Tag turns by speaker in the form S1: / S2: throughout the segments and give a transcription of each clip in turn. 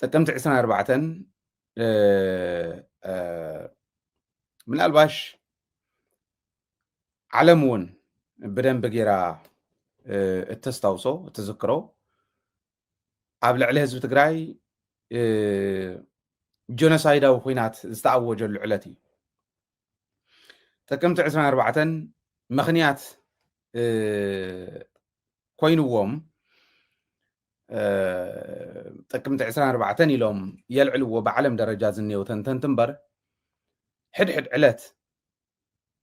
S1: ጥቅምቲ ዕስራን ኣርባዕተን ምናልባሽ ዓለም እውን ብደንቢ ጌራ እተስታውሶ እትዝክሮ ኣብ ልዕሊ ህዝቢ ትግራይ ጀኖሳይዳዊ ኩናት ዝተኣወጀሉ ዕለት እዩ ጥቅምቲ ዕስራን ኣርባዕተን ምኽንያት ኮይንዎም ጥቅምቲ ዕስራን ኣርባዕተን ኢሎም የልዕልዎ ብዓለም ደረጃ ዝኔው ተንተንቲ እምበር ሕድሕድ ዕለት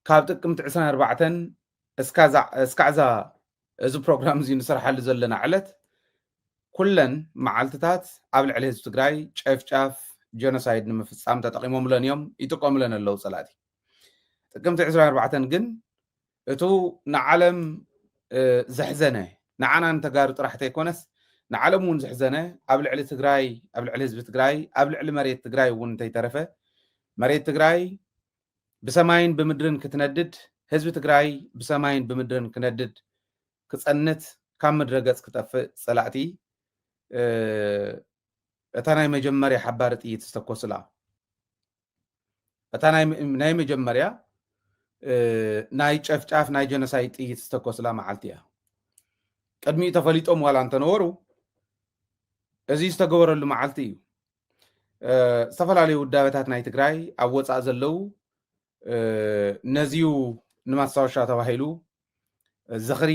S1: ካብ ጥቅምቲ ዕስራን ኣርባዕተን እስካዕዛ እዚ ፕሮግራም እዚ ንስርሓሉ ዘለና ዕለት ኩለን መዓልትታት ኣብ ልዕሊ ህዝቢ ትግራይ ጨፍጫፍ ጀኖሳይድ ንምፍፃም ተጠቂሞምለን እዮም ይጥቀሙለን ኣለው ፀላእቲ ጥቅምቲ 24 ግን እቱ ንዓለም ዘሕዘነ ንዓና ንተጋሩ ጥራሕ ተይኮነስ ንዓለም እውን ዘሕዘነ ኣብ ልዕሊ ትግራይ ኣብ ልዕሊ ህዝቢ ትግራይ ኣብ ልዕሊ መሬት ትግራይ እውን እንተይተረፈ መሬት ትግራይ ብሰማይን ብምድርን ክትነድድ ህዝቢ ትግራይ ብሰማይን ብምድርን ክነድድ ክፀንት ካብ ምድረ ገፅ ክጠፍእ ፀላእቲ እታ ናይ መጀመርያ ሓባሪ ጥይት ዝተኮስላ እታ ናይ መጀመርያ ናይ ጨፍጫፍ ናይ ጀኖሳይድ ጥይት ዝተኮስላ መዓልቲ እያ ቅድሚኡ ተፈሊጦም ዋላ እንተነበሩ እዚ ዝተገበረሉ መዓልቲ እዩ ዝተፈላለዩ ውዳበታት ናይ ትግራይ ኣብ ወፃእ ዘለው ነዚዩ ንማስታወሻ ተባሂሉ ዝኽሪ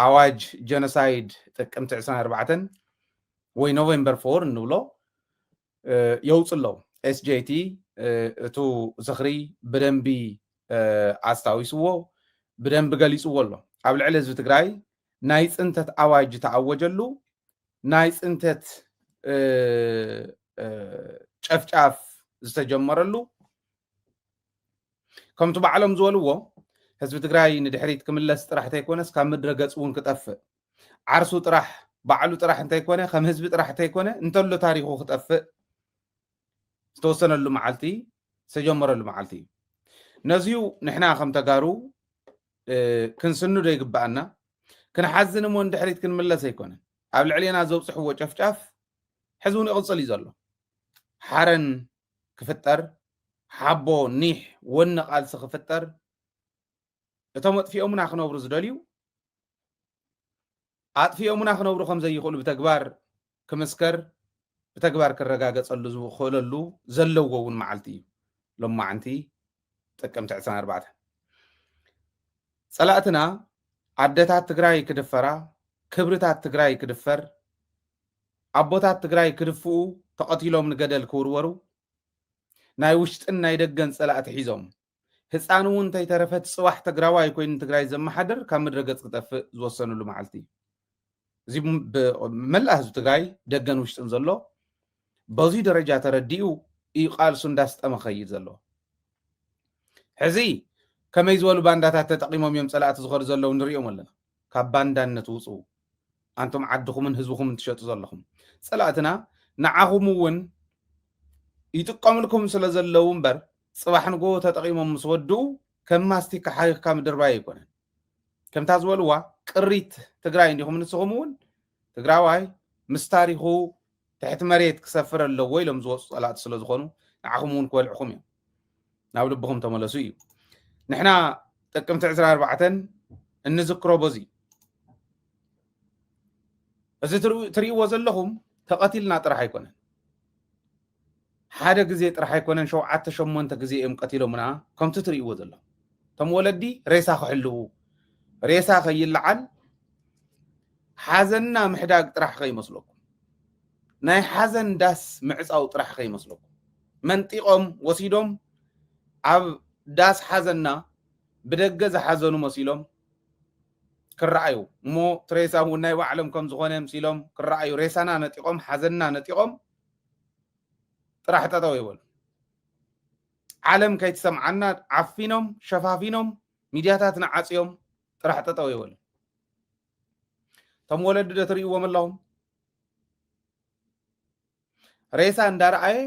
S1: ኣዋጅ ጀኖሳይድ ጥቅምቲ 24 ወይ ኖቨምበር ፎር እንብሎ የውፅ ኣለው ኤስጀቲ እቱ ዝኽሪ ብደንቢ ኣስታዊስዎ ብደንቢ ገሊፅዎ ኣሎ ኣብ ልዕሊ ህዝቢ ትግራይ ናይ ፅንተት ኣዋጅ ተኣወጀሉ ናይ ፅንተት ጨፍጫፍ ዝተጀመረሉ ከምቲ ባዕሎም ዝበልዎ ህዝቢ ትግራይ ንድሕሪት ክምለስ ጥራሕ እንተይኮነስ ካብ ምድረ ገፅ እውን ክጠፍእ ዓርሱ ጥራሕ ባዕሉ ጥራሕ እንተይኮነ ከም ህዝቢ ጥራሕ እንተይኮነ እንተሎ ታሪኩ ክጠፍእ ዝተወሰነሉ መዓልቲ ዝተጀመረሉ መዓልቲ እዩ ነዚዩ ንሕና ከም ተጋሩ ክንስንዶ ይግባኣና ክንሓዝን እሞ ንድሕሪት ክንምለስ ኣይኮነን ኣብ ልዕሌና ዘብፅሕዎ ጨፍጫፍ ሕዚ እውን ይቕፅል እዩ ዘሎ ሓረን ክፍጠር ሓቦ ኒሕ ወኒ ቃልሲ ክፍጠር እቶም ኣጥፊኦምና ክነብሩ ዝደልዩ ኣጥፊኦሙና ክነብሩ ከም ዘይኽእሉ ብተግባር ክምስከር ብተግባር ክረጋገጸሉ ዝኽእለሉ ዘለዎ እውን መዓልቲ እዩ ሎማዕንቲ ጥቅምቲ ዕስራን ኣርባዕተን ጸላእትና ኣደታት ትግራይ ክድፈራ ክብርታት ትግራይ ክድፈር ኣቦታት ትግራይ ክድፍኡ ተቐቲሎም ንገደል ክውርወሩ ናይ ውሽጥን ናይ ደገን ጸላእቲ ሒዞም ህፃን እውን እንተይተረፈ ፅባሕ ትግራዋይ ኮይኑ ንትግራይ ዘመሓድር ካብ ምድረ ገፅ ክጠፍእ ዝወሰንሉ መዓልቲ እዩ። እዚ መላእ ህዝቢ ትግራይ ደገን ውሽጥን ዘሎ በዙይ ደረጃ ተረዲኡ እዩ ቃልሱ እንዳስጠመ ኸይድ ዘሎ። ሕዚ ከመይ ዝበሉ ባንዳታት ተጠቂሞም እዮም ፀላእቲ ዝኸዱ ዘለዉ ንሪኦም ኣለና። ካብ ባንዳነት ውጹ ኣንቱም ዓድኹምን ህዝብኹምን ትሸጡ ዘለኹም ጸላእትና ንዓኹም ውን ይጥቀምልኩም ስለ ዘለዉ እምበር ጽባሕ ንግሆ ተጠቂሞም ምስ ወድኡ ከም ማስቲካ ሓኺኽካ ምድርባይ ኣይኮነን ከምታ ዝበልዋ ቅሪት ትግራይ እንዲኹም ንስኹም ውን ትግራዋይ ምስ ታሪኹ ትሕቲ መሬት ክሰፍር ኣለዎ ኢሎም ዝወጹ ጸላእቲ ስለ ዝኾኑ ንዓኹም እውን ክበልዕኹም እዮም። ናብ ልብኹም ተመለሱ እዩ። ንሕና ጥቅምቲ ዕስራ ኣርባዕተን እንዝክሮ በዚ እዩ። እዚ ትሪእዎ ዘለኹም ተቐቲልና ጥራሕ ኣይኮነን። ሓደ ግዜ ጥራሕ ኣይኮነን ሸውዓተ ሸሞንተ ግዜ እዮም ቀቲሎምና ከምቲ ትርእይዎ ዘለኹም እቶም ወለዲ ሬሳ ክሕልዉ ሬሳ ከይለዓል ሓዘንና ምሕዳግ ጥራሕ ከይመስለኩም ናይ ሓዘን ዳስ ምዕፃው ጥራሕ ከይመስለኩም መንጢቆም ወሲዶም ኣብ ዳስ ሓዘንና ብደገ ዝሓዘኑ መሲሎም ክረኣዩ እሞ ትሬሳ እውን ናይ ባዕሎም ከም ዝኾነ ምሲሎም ክረኣዩ ሬሳና ነጢቆም ሓዘንና ነጢቆም ጥራሕ ጠጠው ይበሉ። ዓለም ከይትሰምዓና ዓፊኖም ሸፋፊኖም ሚድያታትና ዓፅዮም ጥራሕ ጠጠው ይበሉ። እቶም ወለዲ ዶ ትርእይዎም ኣለኹም? ሬሳ እንዳረኣየ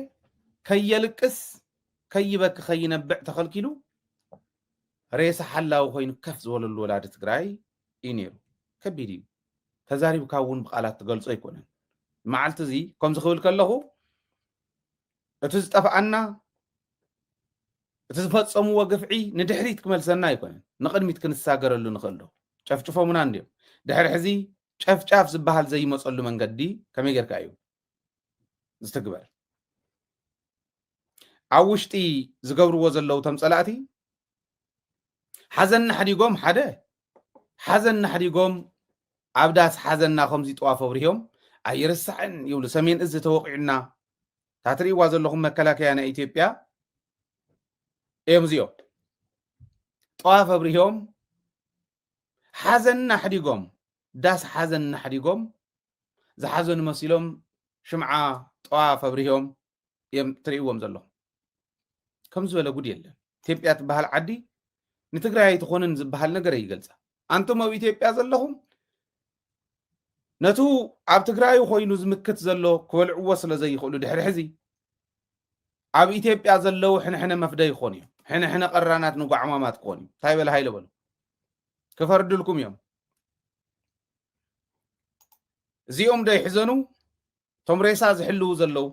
S1: ከየልቅስ ከይበኪ ከይነብዕ ተኸልኪሉ ሬሳ ሓላዊ ኮይኑ ከፍ ዝበለሉ ወላዲ ትግራይ እዩ ነይሩ። ከቢድ እዩ። ተዛሪብካ እውን ብቃላት ትገልጾ ኣይኮነን። መዓልቲ እዚ ከምዚ ክብል ከለኹ እቲ ዝጠፍኣና እቲ ዝፈጸምዎ ግፍዒ ንድሕሪት ክመልሰና ኣይኮነን፣ ንቕድሚት ክንሳገረሉ ንኽእል ዶ? ጨፍጭፎምና እንድዮም። ድሕሪ ሕዚ ጨፍጫፍ ዝበሃል ዘይመጸሉ መንገዲ ከመይ ጌርካ እዩ ዝትግበር? ኣብ ውሽጢ ዝገብርዎ ዘለዉ ተም ጸላእቲ ሓዘንና ሓዲጎም ሓደ ሓዘንና ሓዲጎም ኣብ ዳስ ሓዘንና ከምዚ ጥዋፍ ኣብርሂዮም ኣይርሳዕን ይብሉ ሰሜን እዚ ተወቂዑና እታ ትርእይዋ ዘለኹም መከላከያ ናይ ኢትዮጵያ እዮም እዚኦም ጠዋፍ ኣብርሂዮም ሓዘንና ኣሕዲጎም ዳስ ሓዘንና ኣሕዲጎም ዝሓዘኑ መሲሎም ሽምዓ ጠዋፍ ኣብርሂዮም እዮም ትርእይዎም ዘለኹም ከም ዝበለ ጉድ የለን ኢትዮጵያ ትበሃል ዓዲ ንትግራይ ኣይትኾንን ዝበሃል ነገር ይገልፃ ኣንቱም ኣብ ኢትዮጵያ ዘለኹም ነቱ ኣብ ትግራይ ኮይኑ ዝምክት ዘሎ ክበልዕዎ ስለ ዘይኽእሉ ድሕሪ ሕዚ ኣብ ኢትዮጵያ ዘለዉ ሕንሕነ መፍደ ይኾኑ እዮም ሕንሕነ ቀራናት ንጓዕማማት ክኾኑ እዮም እንታይ በለ ሃይለ በሉ ክፈርድልኩም እዮም እዚኦም ዶ ይሕዘኑ እቶም ሬሳ ዝሕልዉ ዘለዉ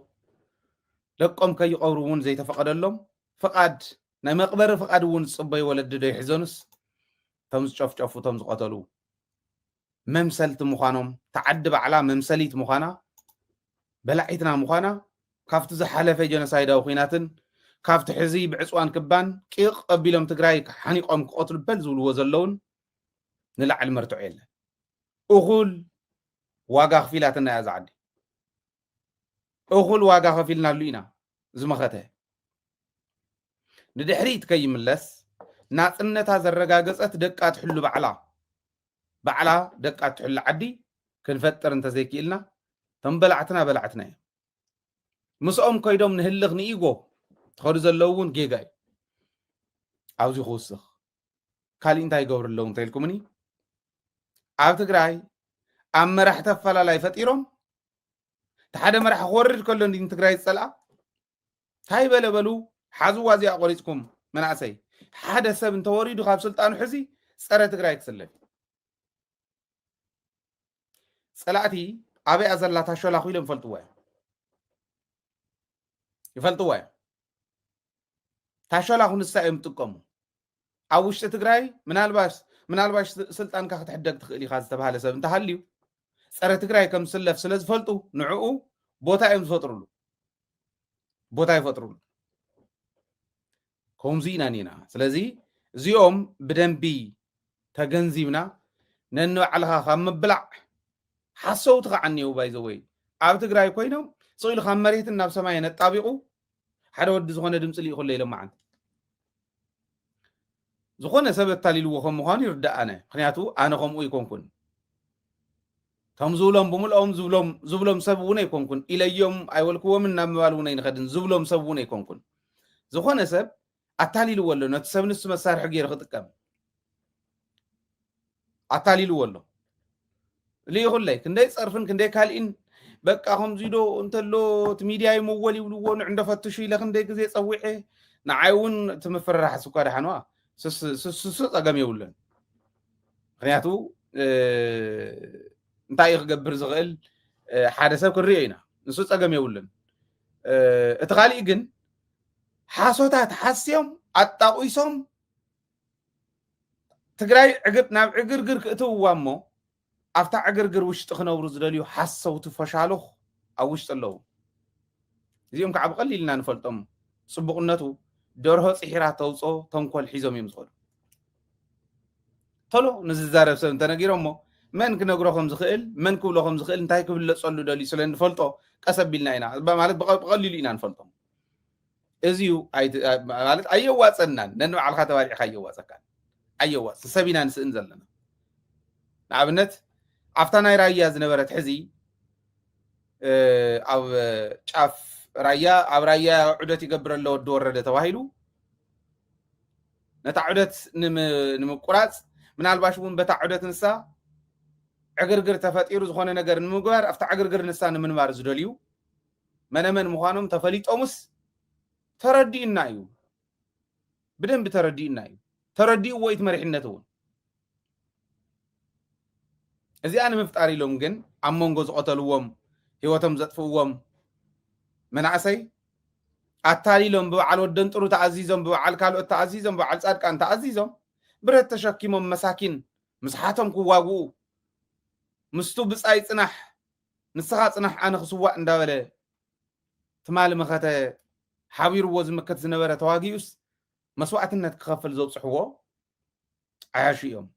S1: ደቆም ከይቐብሩ እውን ዘይተፈቐደሎም ፍቓድ ናይ መቕበሪ ፍቓድ እውን ዝፅበዩ ወለዲ ዶ ይሕዘኑስ እቶም ዝጨፍጨፉ እቶም ዝቐተሉ መምሰልቲ ምዃኖም እታ ዓዲ ባዕላ መምሰሊት ምዃና በላዒትና ምዃና ካብቲ ዝሓለፈ ጀኖሳይዳዊ ኩናትን ካብቲ ሕዚ ብዕፅዋን ክባን ቂቕ ኣቢሎም ትግራይ ሓኒቆም ክቐትሉ በል ዝብልዎ ዘለውን ንላዕሊ መርትዖ የለን እኹል ዋጋ ኣኽፊላትና እያ እዛ ዓዲ። እኹል ዋጋ ከፊልናሉ ኢና ዝመኸተ ንድሕሪት ከይምለስ ናፅነታ ዘረጋገፀት ደቃ ትሕሉ ባዕላ ባዕላ ደቃ ትሕሉ ዓዲ ክንፈጥር እንተዘይክኢልና እቶም በላዕትና በላዕትና እዮም ምስኦም ከይዶም ንህልኽ ንኢጎ ትኸዱ ዘለዉ እውን ጌጋ እዩ ኣብዚ ክውስኽ ካሊእ እንታይ ይገብሩ ኣለዉ እንተኢልኩምኒ ኣብ ትግራይ ኣብ መራሕቲ ኣፈላላይ ፈጢሮም እቲ ሓደ መራሒ ክወርድ ከሎ እንዲ ንትግራይ ዝፀልኣ እንታይ በለ በሉ ሓዝዋ እዚኣ ቆሪፅኩም መናእሰይ ሓደ ሰብ እንተወሪዱ ካብ ስልጣኑ ሕዚ ፀረ ትግራይ ክስለፍ ፀላእቲ ኣበይ እያ ዘላ እታ ሸላኹ ኢሎም ይፈልጥዎ እዮም ይፈልጥዎ እዮም እታ ሸላኹ ንሳ እዮም ዝጥቀሙ ኣብ ውሽጢ ትግራይ ምናልባሽ ምናልባሽ ስልጣንካ ክትሕደግ ትኽእል ኢኻ ዝተባሃለ ሰብ እንተሃልዩ ፀረ ትግራይ ከም ዝስለፍ ስለ ዝፈልጡ ንዕኡ ቦታ እዮም ዝፈጥሩሉ ቦታ ይፈጥሩሉ ከምዚ ኢና ኒና ስለዚ እዚኦም ብደንቢ ተገንዚብና ነንባዕልኻ ካብ ምብላዕ ሓሰውቲ ከዓ እኒው ባይዘወይ ኣብ ትግራይ ኮይኖም ስኢሉ ካብ መሬትን ናብ ሰማይ ነጣቢቑ ሓደ ወዲ ዝኾነ ድምፂ ልኢኹለ ኢሎም መዓንቲ ዝኾነ ሰብ ኣታሊልዎ ከም ምዃኑ ይርዳእ ኣነ ምክንያቱ ኣነ ከምኡ ይኮንኩን እቶም ዝብሎም ብምልኦም ዝብሎም ዝብሎም ሰብ እውን ኣይኮንኩን ኢለዮም ኣይበልክዎምን ናብ ምባል እውን ኣይንኸድን ዝብሎም ሰብ እውን ኣይኮንኩን ዝኾነ ሰብ ኣታሊልዎ ኣሎ ነቲ ሰብ ንሱ መሳርሒ ገይሩ ክጥቀም ኣታሊልዎ ኣሎ ልኢኹለይ ክንደይ ፀርፍን ክንደይ ካልኢን በቃ ከምዚ ዶ እንተሎ እቲ ሚድያ ይመወል ይብልዎ ንዕንዶ ፈትሹ ኢለ ክንደይ ግዜ ፀዊዐ ንዓይ እውን እቲ ምፍርራሕስ እኳ ደሓንዋ ስሱ ፀገም የብሉን ምክንያቱ እንታይ እዩ ክገብር ዝኽእል ሓደ ሰብ ክንሪኦ ኢና ንሱ ፀገም የብሉን እቲ ካሊእ ግን ሓሶታት ሓስዮም ኣጣቂሶም ትግራይ ዕግብ ናብ ዕግርግር ክእትውዋ እሞ ኣብታ ዕግርግር ውሽጢ ክነብሩ ዝደልዩ ሓሰውቲ ፎሻሉኽ ኣብ ውሽጢ ኣለዉ። እዚኦም ከዓ ብቐሊል ኢና ንፈልጦም ፅቡቕነቱ ደርሆ ፂሒራ ተውፅኦ ተንኮል ሒዞም እዮም ዝኸዱ። ቶሎ ንዝዛረብ ሰብ እንተነጊሮሞ መን ክነግሮ ከም ዝኽእል መን ክብሎ ከም ዝኽእል እንታይ ክብለፀሉ ደልዩ ስለ እንፈልጦ ቀስ ኣቢልና ኢና ማለት ብቐሊሉ ኢና ንፈልጦም። እዚዩ ማለት ኣየዋፀናን ነንባዕልካ ተባሊዕካ ኣየዋፀካን ኣየዋፅ ሰብ ኢና ንስእን ዘለና ንኣብነት ኣብታ ናይ ራያ ዝነበረት ሕዚ ኣብ ጫፍ ራያ ኣብ ራያ ዑደት ይገብር ኣሎ ወዲ ወረደ ተባሂሉ ነታ ዑደት ንምቁራፅ ምናልባሽ እውን በታ ዑደት ንሳ ዕግርግር ተፈጢሩ ዝኾነ ነገር ንምግባር ኣብታ ዕግርግር ንሳ ንምንባር ዝደልዩ መነመን ምዃኖም ተፈሊጦምስ ተረዲኡና እዩ ብደንቢ ተረዲኡና እዩ ተረዲኡዎ እቲ መሪሕነት እውን እዚኣ ንምፍጣር ኢሎም ግን ኣብ መንጎ ዝቐተልዎም ህይወቶም ዘጥፍእዎም መናእሰይ ኣታሊሎም ብበዓል ወደን ጥሩ ተኣዚዞም ብበዓል ካልኦት ተኣዚዞም ብበዓል ፃድቃን ተኣዚዞም ብረት ተሸኪሞም መሳኪን ምስሓቶም ክዋግኡ ምስቱ ብፃይ ፅናሕ ንስኻ ጽናሕ ኣነ ክስዋእ እንዳበለ ትማሊ መኸተ ሓቢርዎ ዝምክት ዝነበረ ተዋጊኡስ መስዋእትነት ክኸፍል ዘብጽሕዎ ዓያሹ እዮም።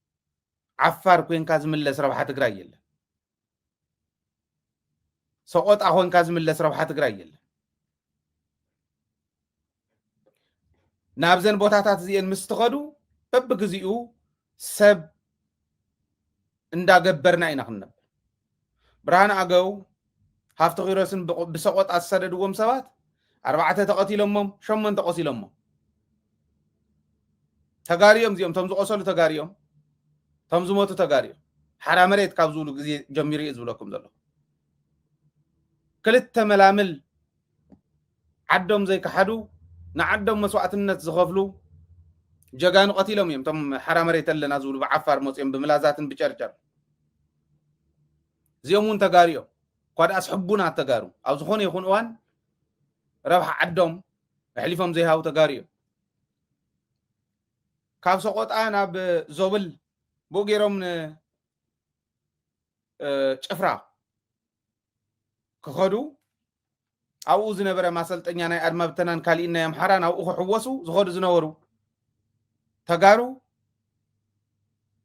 S1: ዓፋር ኮንካ ዝምለስ ረብሓ ትግራይ የለን። ሰቆጣ ኮንካ ዝምለስ ረብሓ ትግራይ የለን። ናብዘን ቦታታት እዚኤን ምስ ትኸዱ በብግዚኡ ሰብ እንዳገበርና ኢና ክንነብ ብርሃን ኣገው ሃፍቲ ኪሮስን ብሰቆጣ ዝሰደድዎም ሰባት ኣርባዕተ ተቐቲሎሞም ሸሞንተ ቆሲሎሞም ተጋሪኦም እዚኦም እቶም ዝቆሰሉ ተጋሪኦም እቶም ዝሞቱ ተጋሪኦም ሓራ መሬት ካብ ዝብሉ ግዜ ጀሚሩ እዩ ዝብለኩም ዘለኹ ክልተ መላምል ዓዶም ዘይከሓዱ ንዓዶም መስዋእትነት ዝኸፍሉ ጀጋኑ ቀቲሎም እዮም እቶም ሓራ መሬት ኣለና ዝብሉ ብዓፋር መፅኦም ብምላዛትን ብጨርጨር እዚኦም እውን ተጋሩ እዮም እኳ ደኣስ ሕቡናት ተጋሩ ኣብ ዝኾነ ይኹን እዋን ረብሓ ዓዶም ኣሕሊፎም ዘይሃቡ ተጋሩ እዮም ካብ ሰቆጣ ናብ ዞብል ብኡ ገይሮም ንጭፍራ ክኸዱ ኣብኡ ዝነበረ ማሰልጠኛ ናይ ኣድማ ብተናን ካሊእን ናይ ኣምሓራ ናብኡ ክሕወሱ ዝኸዱ ዝነበሩ ተጋሩ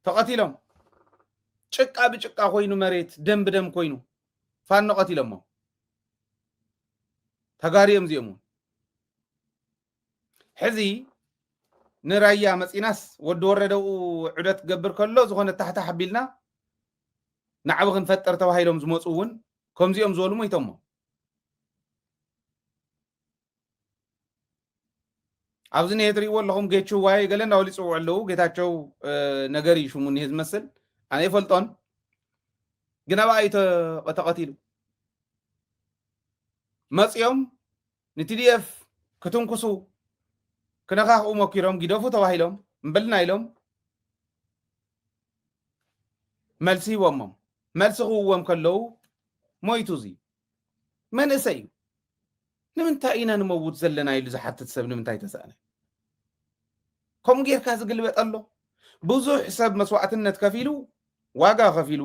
S1: ተቐቲሎም ጭቃ ብጭቃ ኮይኑ መሬት ደም ብደም ኮይኑ ፋኖ ቀቲሎሞ ተጋሩ እዮም እዚኦም እውን ሕዚ ንራያ መፂናስ ወዲ ወረደኡ ዑደት ክገብር ከሎ ዝኾነ ታሕታሕ ኣቢልና ናዕቢ ክንፈጥር ተባሂሎም ዝመፁ እውን ከምዚኦም ዝበሉ ሞይቶሞ ኣብዚ ነ ትሪእዎ ኣለኹም ጌቹ ዋይ ገለ እናበሉ ይፅውዑ ኣለዉ ጌታቸው ነገር እዩ ሽሙ እኒሄ ዝመስል ኣነ ይፈልጦን ግን ኣብኣ እዩ ተቐቲሉ መፂኦም ንቲዲኤፍ ክትንኩሱ ክነካክኡ ሞኪሮም ጊደፉ ተባሂሎም እምበልና ኢሎም መልሲ ሂቦሞም መልሲ ክውዎም ከለዉ ሞይቱ እዚ መንእሰይ እዩ ንምንታይ ኢና ንመውት ዘለና ኢሉ ዝሓትት ሰብ ንምንታይ ተሰእነ ከምኡ ጌርካ ዝግልበጠ ኣሎ ብዙሕ ሰብ መስዋእትነት ከፊሉ ዋጋ ከፊሉ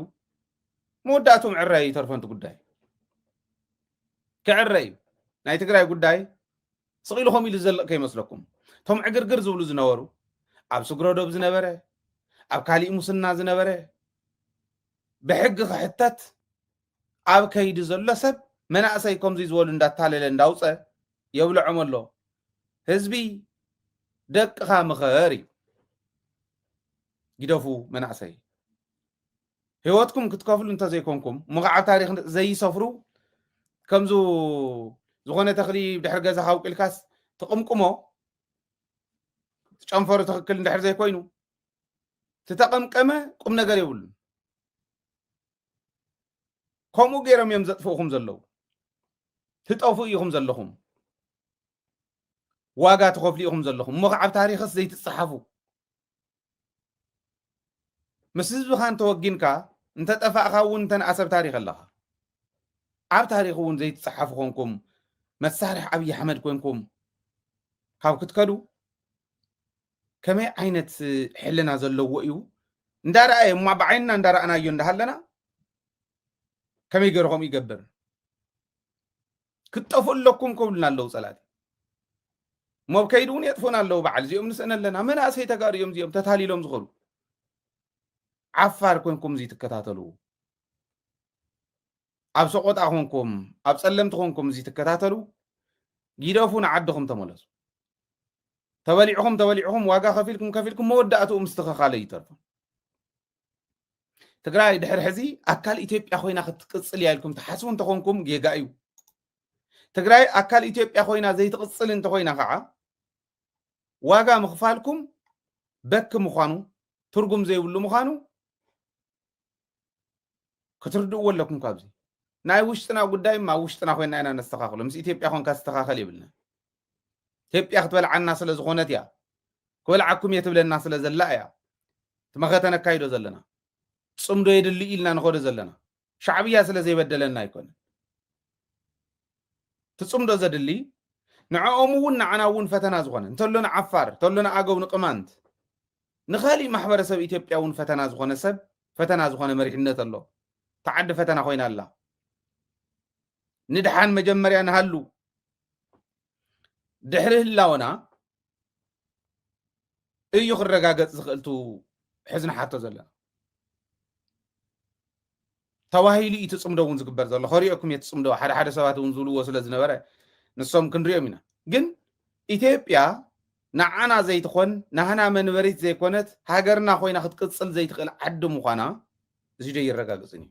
S1: መወዳእትኡ ምዕራይ ይተርፎ ጉዳይ ክዕረ እዩ ናይ ትግራይ ጉዳይ ስቕ ኢሉ ከምኡ ኢሉ ዝዘልቕ ከይመስለኩም እቶም ዕግርግር ዝብሉ ዝነበሩ ኣብ ስግረዶብ ዝነበረ ኣብ ካሊእ ሙስና ዝነበረ ብሕጊ ክሕተት ኣብ ከይዲ ዘሎ ሰብ መናእሰይ ከምዚ ዝበሉ እንዳታለለ እንዳውፀ የብልዖም ኣሎ ህዝቢ ደቅኻ ምኸር እዩ ግደፉ መናእሰይ ህይወትኩም ክትከፍሉ እንተዘይኮንኩም እሞ ከዓ ታሪክ ዘይሰፍሩ ከምዚ ዝኾነ ተኽሊ ድሕሪ ገዛ ካውቂልካስ ትቕምቅሞ ጨንፈሩ ትክክል እንድሕር ዘይኮይኑ ትተቐምቀመ ቁም ነገር የብሉን ከምኡ ገይሮም እዮም ዘጥፍኡኹም ዘለዉ ትጠፉ ኢኹም ዘለኹም ዋጋ ትኸፍሉ ኢኹም ዘለኹም እሞ ከዓብ ታሪክስ ዘይትፀሓፉ ምስ ህዝብኻ እንተወጊንካ እንተጠፋእካ እውን እንተንኣ ሰብ ታሪክ ኣለኻ ኣብ ታሪክ እውን ዘይትፀሓፉ ኮንኩም መሳርሒ ኣብይ ኣሕመድ ኮንኩም ካብ ክትከዱ ከመይ ዓይነት ሕልና ዘለዎ እዩ እንዳረኣየ እማ ብዓይንና እንዳረኣናዮ እንዳሃለና ከመይ ገይሩ ከምኡ ይገብር ክትጠፍኡ ኣለኩም ክብሉና ኣለዉ ፀላእቲ እሞ ኣብ ከይዲ እውን የጥፉና ኣለዉ በዓል እዚኦም ንስእነ ኣለና መናእሰይ ተጋሩ እዮም እዚኦም ተታሊሎም ዝኸዱ ዓፋር ኮንኩም እዚ ትከታተሉ ኣብ ሰቆጣ ኮንኩም ኣብ ፀለምቲ ኮንኩም እዚ ትከታተሉ ጊደፉ ንዓድኹም ተመለሱ ተበሊዕኹም ተበሊዕኹም ዋጋ ከፊልኩም ከፊልኩም መወዳእትኡ ምስትኸኻለ ይተርፉ ትግራይ ድሕር ሕዚ ኣካል ኢትዮጵያ ኮይና ክትቅፅል እያ ኢልኩም ትሓስቡ እንተኾንኩም ጌጋ እዩ ትግራይ ኣካል ኢትዮጵያ ኮይና ዘይትቕፅል እንተኮይና ከዓ ዋጋ ምኽፋልኩም በኪ ምዃኑ ትርጉም ዘይብሉ ምዃኑ ክትርድእዎ ኣለኩም ካብዚ ናይ ውሽጥና ጉዳይ ኣብ ውሽጥና ኮይና ኢና ነስተኻኽሎ ምስ ኢትዮጵያ ኮንካ ዝተኻኸል የብልና ኢትዮጵያ ክትበልዓና ስለ ዝኾነት እያ ክበልዓኩም እየ ትብለና ስለ ዘላ እያ እቲ መኸተ ነካይዶ ዘለና ፅምዶ የድሊ ኢልና ንኸዶ ዘለና ሻዕብያ ስለ ዘይበደለና ኣይኮነን እቲ ፅምዶ ዘድሊ ንዕኦም እውን ንዓና እውን ፈተና ዝኾነ እንተሎ ንዓፋር እንተሎ ንኣገው ንቅማንት ንካሊእ ማሕበረሰብ ኢትዮጵያ እውን ፈተና ዝኾነ ሰብ ፈተና ዝኾነ መሪሕነት ኣሎ ተዓዲ ፈተና ኮይና ኣላ ንድሓን መጀመርያ ንሃሉ ድሕሪ ህላወና እዩ ክረጋገፅ ዝኽእልቱ ሕዝኒ ሓቶ ዘለና ተባሂሉ እዩ ትፅምዶ እውን ዝግበር ዘሎ ከሪኦኩም እየ ትፅምዶ ሓደ ሓደ ሰባት እውን ዝብልዎ ስለ ዝነበረ ንሶም ክንሪኦም ኢና ግን ኢትዮጵያ ንዓና ዘይትኾን ናህና መንበሪት ዘይኮነት ሃገርና ኮይና ክትቅፅል ዘይትኽእል ዓዲ ምዃና እዚ ዶ ይረጋግፅን እዩ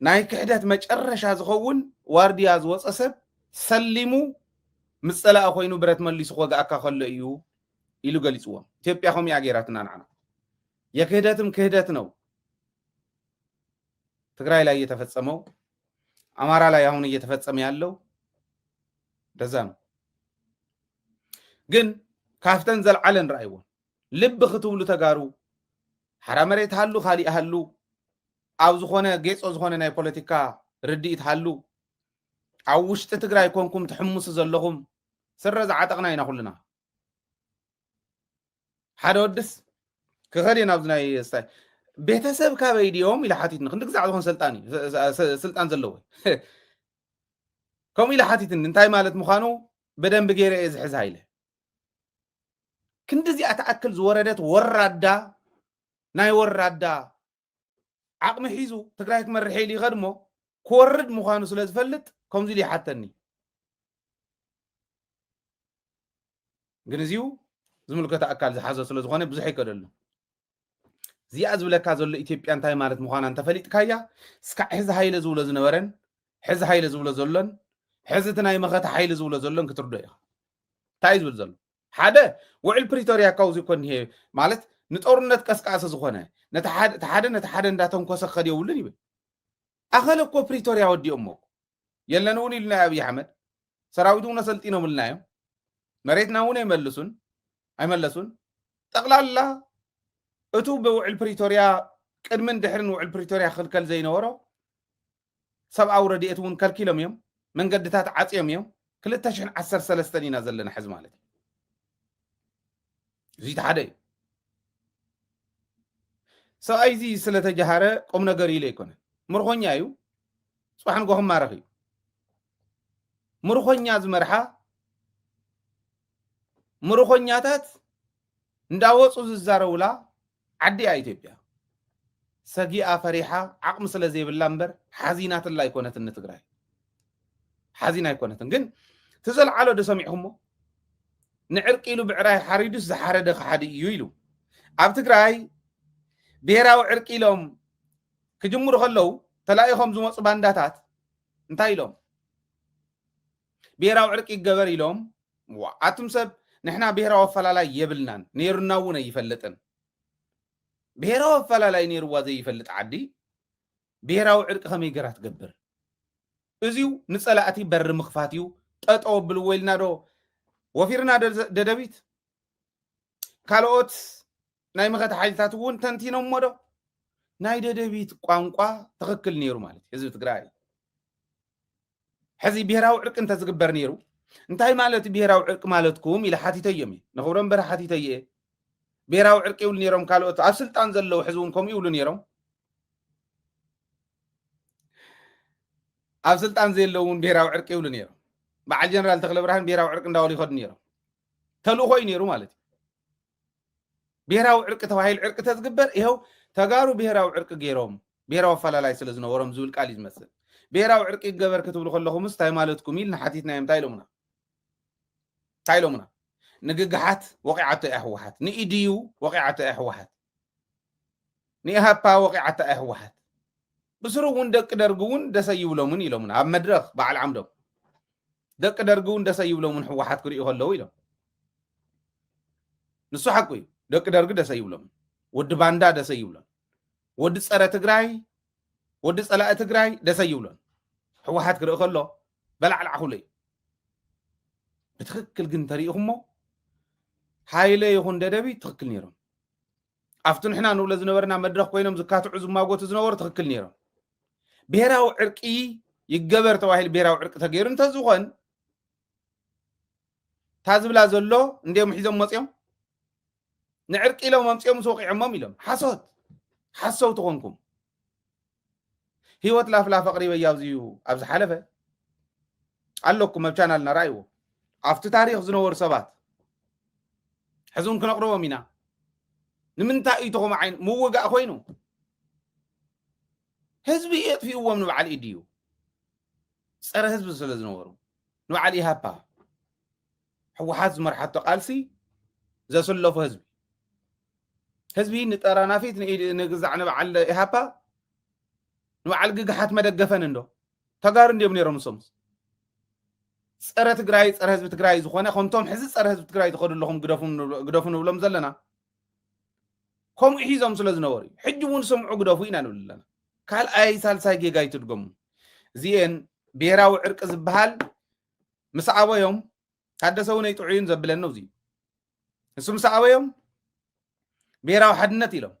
S1: ናይ ክሕደት መጨረሻ ዝኸውን ዋርድያ ዝወጸ ሰብ ሰሊሙ ምስ ጸላኢ ኮይኑ ብረት መሊሱ ክወግኣካ ከሎ እዩ ኢሉ ገሊጽዎም። ኢትዮጵያ ከምኡ እያ ገይራትና ንዓና። የክህደትም ክህደት ነው። ትግራይ ላይ የተፈጸመው አማራ ላይ አሁን እየተፈጸመ ያለው እንደዛ ነው። ግን ካፍተን ዘልዓለን ረኣይዎን ልቢ ክትብሉ ተጋሩ ሓራ መሬት ሃሉ ካሊእ ሃሉ ኣብ ዝኾነ ጌፆ ዝኾነ ናይ ፖለቲካ ርድኢት ሃሉ ኣብ ውሽጢ ትግራይ ኮንኩም ትሕምሱ ዘለኹም ስረ ዝዓጠቕና ኢና ኩልና ሓደ ወድስ ክኸድ እየ ናብዚ ናይ ስታይ ቤተሰብ ካበይ ድዮም ኢለ ሓቲትኒ ክንዲ ግዛዕ ዝኾን ሰልጣን እዩ ስልጣን ዘለዎ ከምኡ ኢለ ሓቲትኒ እንታይ ማለት ምዃኑ በደንብ ገይረ እየ ዝሕዛ ኢለ ክንዲ እዚኣ ትኣክል ዝወረደት ወራዳ ናይ ወራዳ ዓቕሚ ሒዙ ትግራይ ክመርሕ ኢሉ ይኸድ እሞ ክወርድ ምዃኑ ስለ ዝፈልጥ ከምዚ ኢሉ ይሓተኒ ግን እዚኡ ዝምልከተ ኣካል ዝሓዞ ስለ ዝኾነ ብዙሕ ይከደሉ እዚኣ ዝብለካ ዘሎ ኢትዮጵያ እንታይ ማለት ምዃና እንተፈሊጥካያ እስካዕ ሕዚ ሃይለ ዝብሎ ዝነበረን ሕዚ ሃይለ ዝብሎ ዘሎን ሕዚ እቲ ናይ መኸተ ሓይሊ ዝብሎ ዘሎን ክትርዶ ኢኻ እንታይ ዝብል ዘሎ ሓደ ውዕል ፕሪቶርያ ካብዚ እኮ እኒሄ ማለት ንጦርነት ቀስቃሲ ዝኾነ ነቲ ሓደ ነቲ ሓደ እንዳተንኮሰ ክኸድ የብሉን ይብል ኣኸለ እኮ ፕሪቶርያ ወዲኦሞ የለን እውን ኢሉና ኣብዪ ኣሕመድ ሰራዊት እውን ኣሰልጢኖምልና እዮም መሬትና እውን ኣይመልሱን ኣይመለሱን ጠቕላላ እቱ ብውዕል ፕሪቶርያ ቅድምን ድሕርን ውዕል ፕሪቶርያ ክልከል ዘይነበሮ ሰብኣዊ ረድኤት እውን ከልኪሎም እዮም መንገድታት ዓጽዮም እዮም ክልተ ሽሕን ዓሰርተ ሰለስተን ኢና ዘለና ሕዚ ማለት እዩ እዚ እቲ ሓደ እዩ ሰብኣይ እዚ ስለተጀሃረ ቁም ነገር ኢለ ኣይኮነ ምርኮኛ እዩ ፅባሕ ንጎ ክማረኽ እዩ ምርኮኛ ዝመርሓ ምርኮኛታት እንዳወፁ ዝዛረቡላ ዓዲ እያ ኢትዮጵያ ሰጊኣ ፈሪሓ ዓቅሚ ስለ ዘይብላ እምበር ሓዚናትላ ኣይኮነትን ንትግራይ ሓዚና ኣይኮነትን ግን ትዘልዓሎ ዶ ሰሚዕኹሞ ንዕርቂ ኢሉ ብዕራይ ሓሪዱስ ዝሓረደ ክሓዲ እዩ ኢሉ ኣብ ትግራይ ብሄራዊ ዕርቂ ኢሎም ክጅምሩ ከለው ተላኢኾም ዝመፁ ባንዳታት እንታይ ኢሎም ብሄራዊ ዕርቂ ይገበር ኢሎም ዋእ ኣቱም ሰብ ንሕና ብሄራዊ ኣፈላላይ የብልናን ነይሩና እውን ኣይፈልጥን ብሄራዊ ኣፈላላይ ነይርዋ ዘይፈልጥ ዓዲ ብሄራዊ ዕርቂ ከመይ ገራ ትገብር እዚው ንፀላእቲ በሪ ምኽፋት እዩ ጠጠው ኣብልዎ ኢልና ዶ ወፊርና ደደቢት ካልኦት ናይ መኸተ ሓይልታት እውን ተንቲኖሞ ዶ ናይ ደደቢት ቋንቋ ትኽክል ነይሩ ማለት ህዝቢ ትግራይ ሕዚ ብሄራዊ ዕርቂ እንተዝግበር ነይሩ እንታይ ማለት እዩ ብሄራዊ ዕርቂ ማለትኩም ኢለ ሓቲተዮም እየ ንኽብሮም በረ ሓቲተየ እየ ብሄራዊ ዕርቂ ይብሉ ነይሮም ካልኦት ኣብ ስልጣን ዘለዉ ሕዚ እውን ከምኡ ይብሉ ነይሮም ኣብ ስልጣን ዘየለዉ እውን ብሄራዊ ዕርቂ ይብሉ ነይሮም በዓል ጀነራል ተክለ ብርሃን ብሄራዊ ዕርቂ እንዳበሉ ይኸዱ ነይሮም ተልእኾ እዩ ነይሩ ማለት እዩ ብሄራዊ ዕርቂ ተባሂሉ ዕርቂ ተዝግበር ይኸው ተጋሩ ብሄራዊ ዕርቂ ገይሮም ብሄራዊ ኣፈላላይ ስለ ዝነበሮም ዝብል ቃል እዩ ዝመስል ብሄራዊ ዕርቂ ይገበር ክትብሉ ከለኹምስ እንታይ ማለትኩም ኢልና ሓቲትናዮም እንታይ ኢሎምና እንታይ ኢሎምና ንግግሓት ወቂዓቶ እያ ህወሓት ንኢድዩ ወቂዓቶ እያ ህወሓት ንኢሃፓ ወቒዓታ እያ ህወሓት። ብስሩ እውን ደቂ ደርጊ እውን ደስ ኣይብሎምን ኢሎምና ኣብ መድረኽ በዓል ዓምዶም ደቂ ደርጊ እውን ደስ ኣይብሎምን ህወሓት ክርእዩ ከለዉ ኢሎም። ንሱ ሓቁ እዩ። ደቂ ደርጊ ደስ ኣይብሎምን። ወዲ ባንዳ ደስ ኣይብሎን። ወዲ ፀረ ትግራይ ወዲ ፀላኢ ትግራይ ደስ ኣይብሎን። ህወሓት ክርኢ ከሎ በላዕላዕ ክብሎ እዩ። ብትክክል ግን ተሪኢኹሞ ሃይለ ይኹን ደደቢ ትክክል ነይሮም። ኣብቲ ንሕና ንብሎ ዝነበርና መድረኽ ኮይኖም ዝካትዑ ዝማጎቱ ዝነበሩ ትኽክል ነይሮም ብሄራዊ ዕርቂ ይገበር ተባሂሉ ብሄራዊ ዕርቂ ተገይሩ እንተዝኾን እታ ዝብላ ዘሎ እንዲኦም ሒዞም መፅኦም ንዕርቂ ኢሎም ኣምፅኦም ምስ ወቂዖሞም ኢሎም ሓሶት ሓሰውቲ ኮንኩም ሂወት ላፍላፍ ኣቕሪበያ ኣብዚዩ ኣብ ዝሓለፈ ኣለኩም ኣብ ቻናልና ራእይዎ ኣብቲ ታሪኽ ዝነበሩ ሰባት ሕዚ እውን ክነቕርቦም ኢና ንምንታይ እዩ ተኸም ዓይን ምውጋእ ኮይኑ ህዝቢ የጥፍእዎም ንበዓል ኢድዩ ፀረ ህዝቢ ስለ ዝነበሩ ንበዓል ኢሃፓ ሕወሓት ዝመርሓቶ ቃልሲ ዘስለፎ ህዝቢ ህዝቢ ንጠራናፊት ንግዛዕ ንበዓል ኢሃፓ ንበዓል ግግሓት መደገፈን እንዶ ተጋሩ እንዲዮም ነይሮም ንሶምስ ፀረ ትግራይ ፀረ ህዝቢ ትግራይ ዝኾነ ከምቶም ሕዚ ፀረ ህዝቢ ትግራይ ዝኸዱ ኣለኹም ግደፉ ንብሎም ዘለና ከምኡ ሒዞም ስለ ዝነበሩ እዩ ሕጂ እውን ስምዑ ግደፉ ኢና ንብል ኣለና ካልኣይ ሳልሳይ ጌጋ ይትድገሙ እዚኤን ብሄራዊ ዕርቂ ዝበሃል ምስ ኣበዮም ታደሰ እውነይ ጥዑይን ዘብለኒ እዙ ንሱ ምስ ኣበዮም ብሄራዊ ሓድነት ኢሎም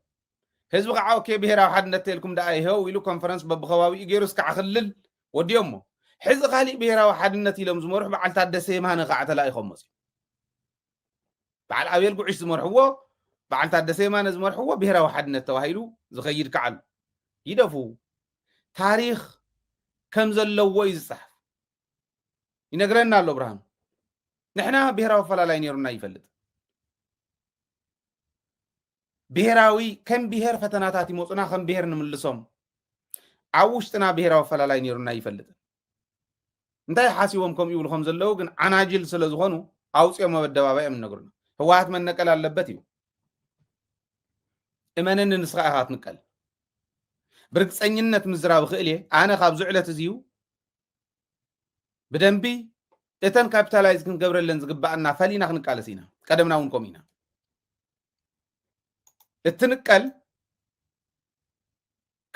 S1: ህዝቢ ከዓ ኦኬ ብሄራዊ ሓድነት ተልኩም ደኣ ይሄው ኢሉ ኮንፈረንስ በብከባቢኡ ገይሩ እስካዕ ክልል ወዲኦሞ ሕዚ ካሊእ ብሄራዊ ሓድነት ኢሎም ዝመርሑ በዓል ታደሰ የማነ ከዓ ተላኢኾም መፅኡ በዓል ኣቤል ጉዕሽ ዝመርሕዎ በዓል ታደሰ የማነ ዝመርሕዎ ብሄራዊ ሓድነት ተባሂሉ ዝኸይድ ከዓ ኣሎ ይደፉ ታሪክ ከም ዘለዎ እዩ ዝፅሓፍ ይነግረና ኣሎ ብርሃኑ ንሕና ብሄራዊ ኣፈላላይ ነይሩና ይፈልጥ ብሄራዊ ከም ብሄር ፈተናታት ይመፁና ከም ብሄር ንምልሶም ኣብ ውሽጥና ብሄራዊ ኣፈላላይ ነይሩና ይፈልጥ እንታይ ሓሲቦም ከምኡ ይብሉ ከም ዘለዉ ግን ዓናጅል ስለ ዝኾኑ ኣውፅኦም ኣብ ኣደባባይ እዮም እነግሩና ህወሓት መነቀል ኣለበት እዩ እመነኒ ንስኻ ኢኻ ትንቀል ብርግፀኝነት ምዝራብ እኽእል እየ ኣነ ካብዚ ዕለት እዚዩ ብደንቢ እተን ካፒታላይዝ ክንገብረለን ዝግባኣና ፈሊና ክንቃለስ ኢና ቀደምና እውን ከምኡ ኢና እትንቀል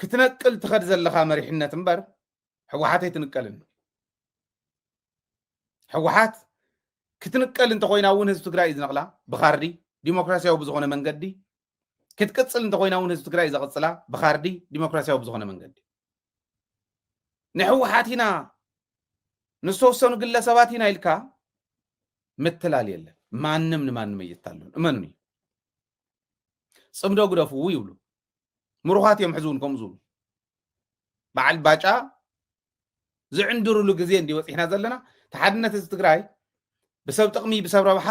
S1: ክትነቅል ትኸድ ዘለኻ መሪሕነት እምበር ሕወሓት ኣይትንቀልን ሕወሓት ክትንቀል እንተኮይና እውን ህዝቢ ትግራይ እዩ ዝነቕላ ብካርዲ ዲሞክራሲያዊ ብዝኾነ መንገዲ ክትቅፅል እንተኮይና እውን ህዝቢ ትግራይ እዩ ዘቕፅላ ብካርዲ ዲሞክራሲያዊ ብዝኾነ መንገዲ ንሕወሓት ኢና ንዝተወሰኑ ግለሰባት ኢና ኢልካ ምትላል የለን። ማንም ንማንም እይታለን እመኑኒ። ፅምዶ ግደፍዎ ይብሉ ምሩኻት እዮም። ሕዚ እውን ከምኡ ዝብሉ በዓል ባጫ ዝዕንድርሉ ግዜ እንዲ በፂሕና ዘለና እቲ ሓድነት እዚ ትግራይ ብሰብ ጥቕሚ ብሰብ ረብሓ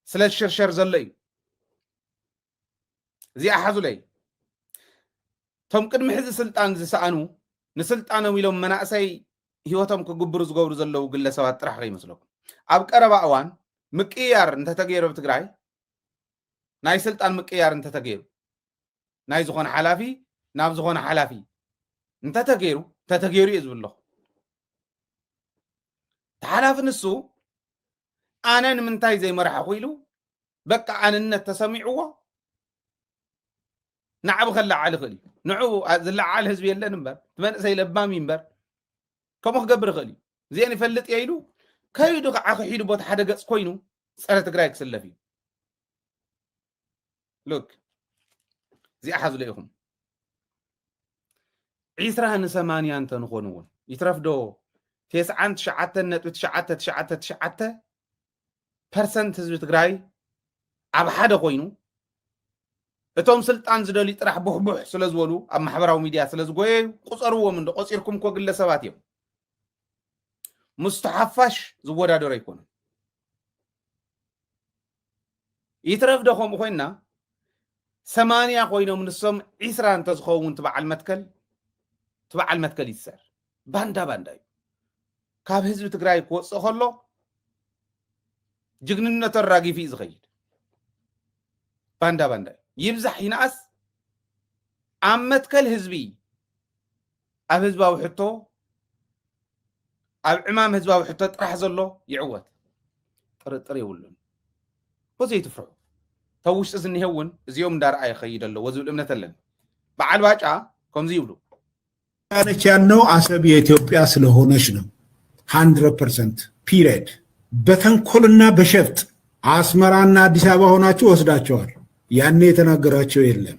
S1: ስለ ዝሽርሸር ዘሎ እዩ። እዚኣ ሓዙለይ እቶም ቅድሚ ሕዚ ስልጣን ዝሰኣኑ ንስልጣኖም ኢሎም መናእሰይ ሂወቶም ክግብሩ ዝገብሩ ዘለዉ ግለሰባት ጥራሕ ከይመስለኩም ኣብ ቀረባ እዋን ምቅያር እንተተገይሩ ኣብ ትግራይ ናይ ስልጣን ምቅያር እንተተገይሩ ናይ ዝኾነ ሓላፊ ናብ ዝኾነ ሓላፊ እንተተገይሩ ተተገይሩ እዩ ዝብለኹ ተሓላፊ ንሱ ኣነ ንምንታይ ዘይመራሕኹ ኢሉ በቃ ኣንነት ተሰሚዕዎ ናዕቢ ከለዓል ይኽእል እዩ ንዑ ዝለዓል ህዝቢ የለን እምበር እቲ መንእሰይ ለባም እዩ እምበር ከምኡ ክገብር ይኽእል እዩ እዚአን ይፈልጥ እየ ኢሉ ከይዱ ከዓ ክሒዱ ቦታ ሓደ ገፅ ኮይኑ ፀረ ትግራይ ክስለፍ እዩ ሉክ እዚኣ ሓዝሎ ኢኹም ዒስራ ንሰማንያ እንተንኾኑ እውን ይትረፍ ዶ ቴስዓን ትሽዓተን ነጥቢ ትሽዓተ ትሽዓተ ትሽዓተ ፐርሰንት ህዝቢ ትግራይ ኣብ ሓደ ኮይኑ እቶም ስልጣን ዝደልዩ ጥራሕ ቡሕቡሕ ስለ ዝበሉ ኣብ ማሕበራዊ ሚድያ ስለ ዝጎየዩ ቁፀርዎም እንዶ ቆፂርኩም እኮ ግለሰባት እዮም ምስቲ ሓፋሽ ዝወዳደሩ ኣይኮኑን ይትረፍ ዶ ከምኡ ኮይና ሰማንያ ኮይኖም ንሶም ዒስራ እንተዝኸውን ትበዓል መትከል ትበዓል መትከል ይትሰር ባንዳ ባንዳ እዩ ካብ ህዝቢ ትግራይ ክወፅእ ከሎ ጅግንነቱ ኣራጊፉ እዩ ዝኸይድ ባንዳ ባንዳ እዩ ይብዛሕ ይንኣስ ኣብ መትከል ህዝቢ ኣብ ህዝባዊ ሕቶ ኣብ ዕማም ህዝባዊ ሕቶ ጥራሕ ዘሎ ይዕወት ጥርጥር የብሉን እኮ ዘይትፍርሑ ተብ ውሽጢ ዝኒሄ እውን እዚኦም እንዳረኣየ ይኸይድ ኣለዎ ዝብል እምነት ኣለኒ በዓል ባጫ ከምዚ ይብሉ ነች
S2: ያልነው አሰብ የኢትዮጵያ ስለሆነች ነው። ሀንድረድ ፐርሰንት ፒሪየድ። በተንኮልና በሸፍጥ አስመራና አዲስ አበባ ሆናችሁ ወስዳቸዋል። ያኔ የተናገራቸው የለም።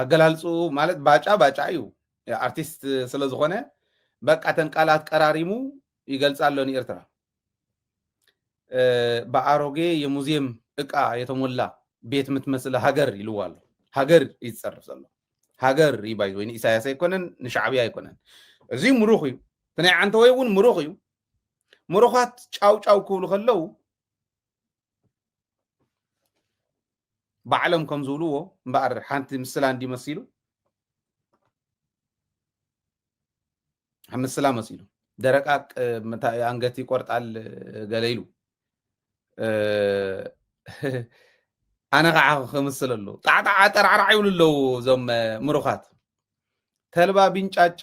S1: ኣገላልጽኡ ማለት ባጫ ባጫ እዩ ኣርቲስት ስለ ዝኾነ በቃ ተን ቃላት ቀራሪሙ ይገልጻ ኣሎ ንኤርትራ ብኣሮጌ የሙዚየም እቃ የተሞላ ቤት የምትመስል ሃገር ኢልዋ ኣሎ ሃገር እዩ ዝፀርፍ ዘሎ ሃገር እዩ ባይ ወይ ንኢሳያስ ኣይኮነን ንሻዕብያ ኣይኮነን እዚ ምሩኽ እዩ እቲ ናይ ዓንተወይ እውን ምሩኽ እዩ ምሩኻት ጫው ጫው ክብሉ ከለው ባዕሎም ከም ዝብልዎ እምበኣር ሓንቲ ምስላ እንዲ መሲሉ ምስላ መሲሉ ደረቃቅ ኣንገት ይቆርጣል ገለ ኢሉ ኣነ ከዓ ክምስል ኣለዎ ጣዕጣዓ ጠራዕራዕ ይብሉ ኣለዉ እዞም ምሩኻት ተልባ ቢንጫጫ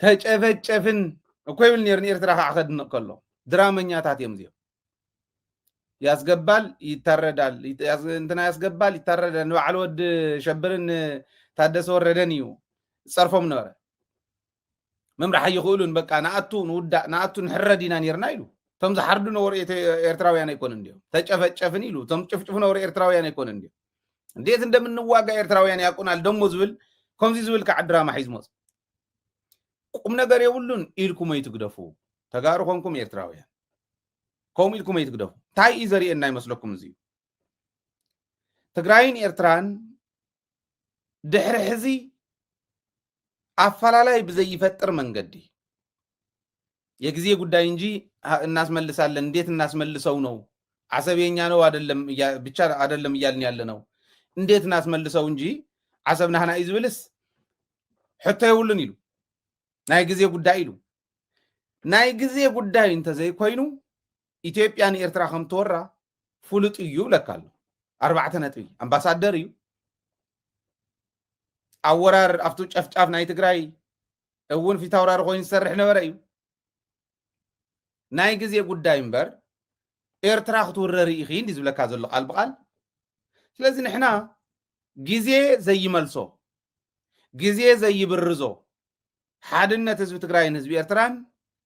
S1: ተጨፈጨፍን እኮ ይብል ነይሩ ንኤርትራ ከዓ ከድንቕ ከሎ ድራመኛታት እዮም እዚኦም ያስገባል ይታረዳል እንትና ያስገባል ይታረዳል ንበዓል ወድ ሸብርን ታደሰ ወረደን እዩ ዝፀርፎም ነበረ ምምራሕ ኣይኽእሉን በቃ ንኣቱ ንውዳእ ንኣቱ ንሕረድ ኢና ነርና ኢሉ እቶም ዝሓርዱ ነበሩ ኤርትራውያን ኣይኮኑን እንዲኦም ተጨፈጨፍን ኢሉ እቶም ጭፍጭፉ ነበሩ ኤርትራውያን ኣይኮኑን እንዲኦም እንዴት እንደምንዋጋ ኤርትራውያን ያቁናል ደሞ ዝብል ከምዚ ዝብል ከዓ ድራማ ሒዝ መፅ ቁም ነገር የብሉን ኢልኩም ኣይትግደፉ ተጋሩ ኮንኩም ኤርትራውያን ከምኡ ኢልኩም ኣይትግደፉ እንታይ እዩ ዘርእየና ይመስለኩም እዚ ትግራይን ኤርትራን ድሕሪ ሕዚ ኣፈላላይ ብዘይፈጥር መንገዲ የጊዜ ጉዳይ እንጂ እናስመልሳለን እንዴት እናስመልሰው ነው አሰብ የኛ ነው አይደለም ብቻ አይደለም እያልን ያለ ነው እንዴት እናስመልሰው እንጂ አሰብ ናህና እዩ ዝብልስ ሕቶ የብሉን ኢሉ ናይ ግዜ ጉዳይ ኢሉ ናይ ግዜ ጉዳይ እንተዘይኮይኑ ኢትዮጵያ ንኤርትራ ከም ትወራ ፍሉጥ እዩ ይብለካ ኣሎ ኣርባዕተ ነጥቢ ኣምባሳደር እዩ ኣብ ወራር ኣብቱ ጨፍጫፍ ናይ ትግራይ እውን ፊታውራሪ ኮይኑ ዝሰርሕ ነበረ እዩ ናይ ግዜ ጉዳይ እምበር ኤርትራ ክትውረሪ ኢኺ እንዲ ዝብለካ ዘሎ ቃል ብቃል ስለዚ ንሕና ግዜ ዘይመልሶ ግዜ ዘይብርዞ ሓድነት ህዝቢ ትግራይን ህዝቢ ኤርትራን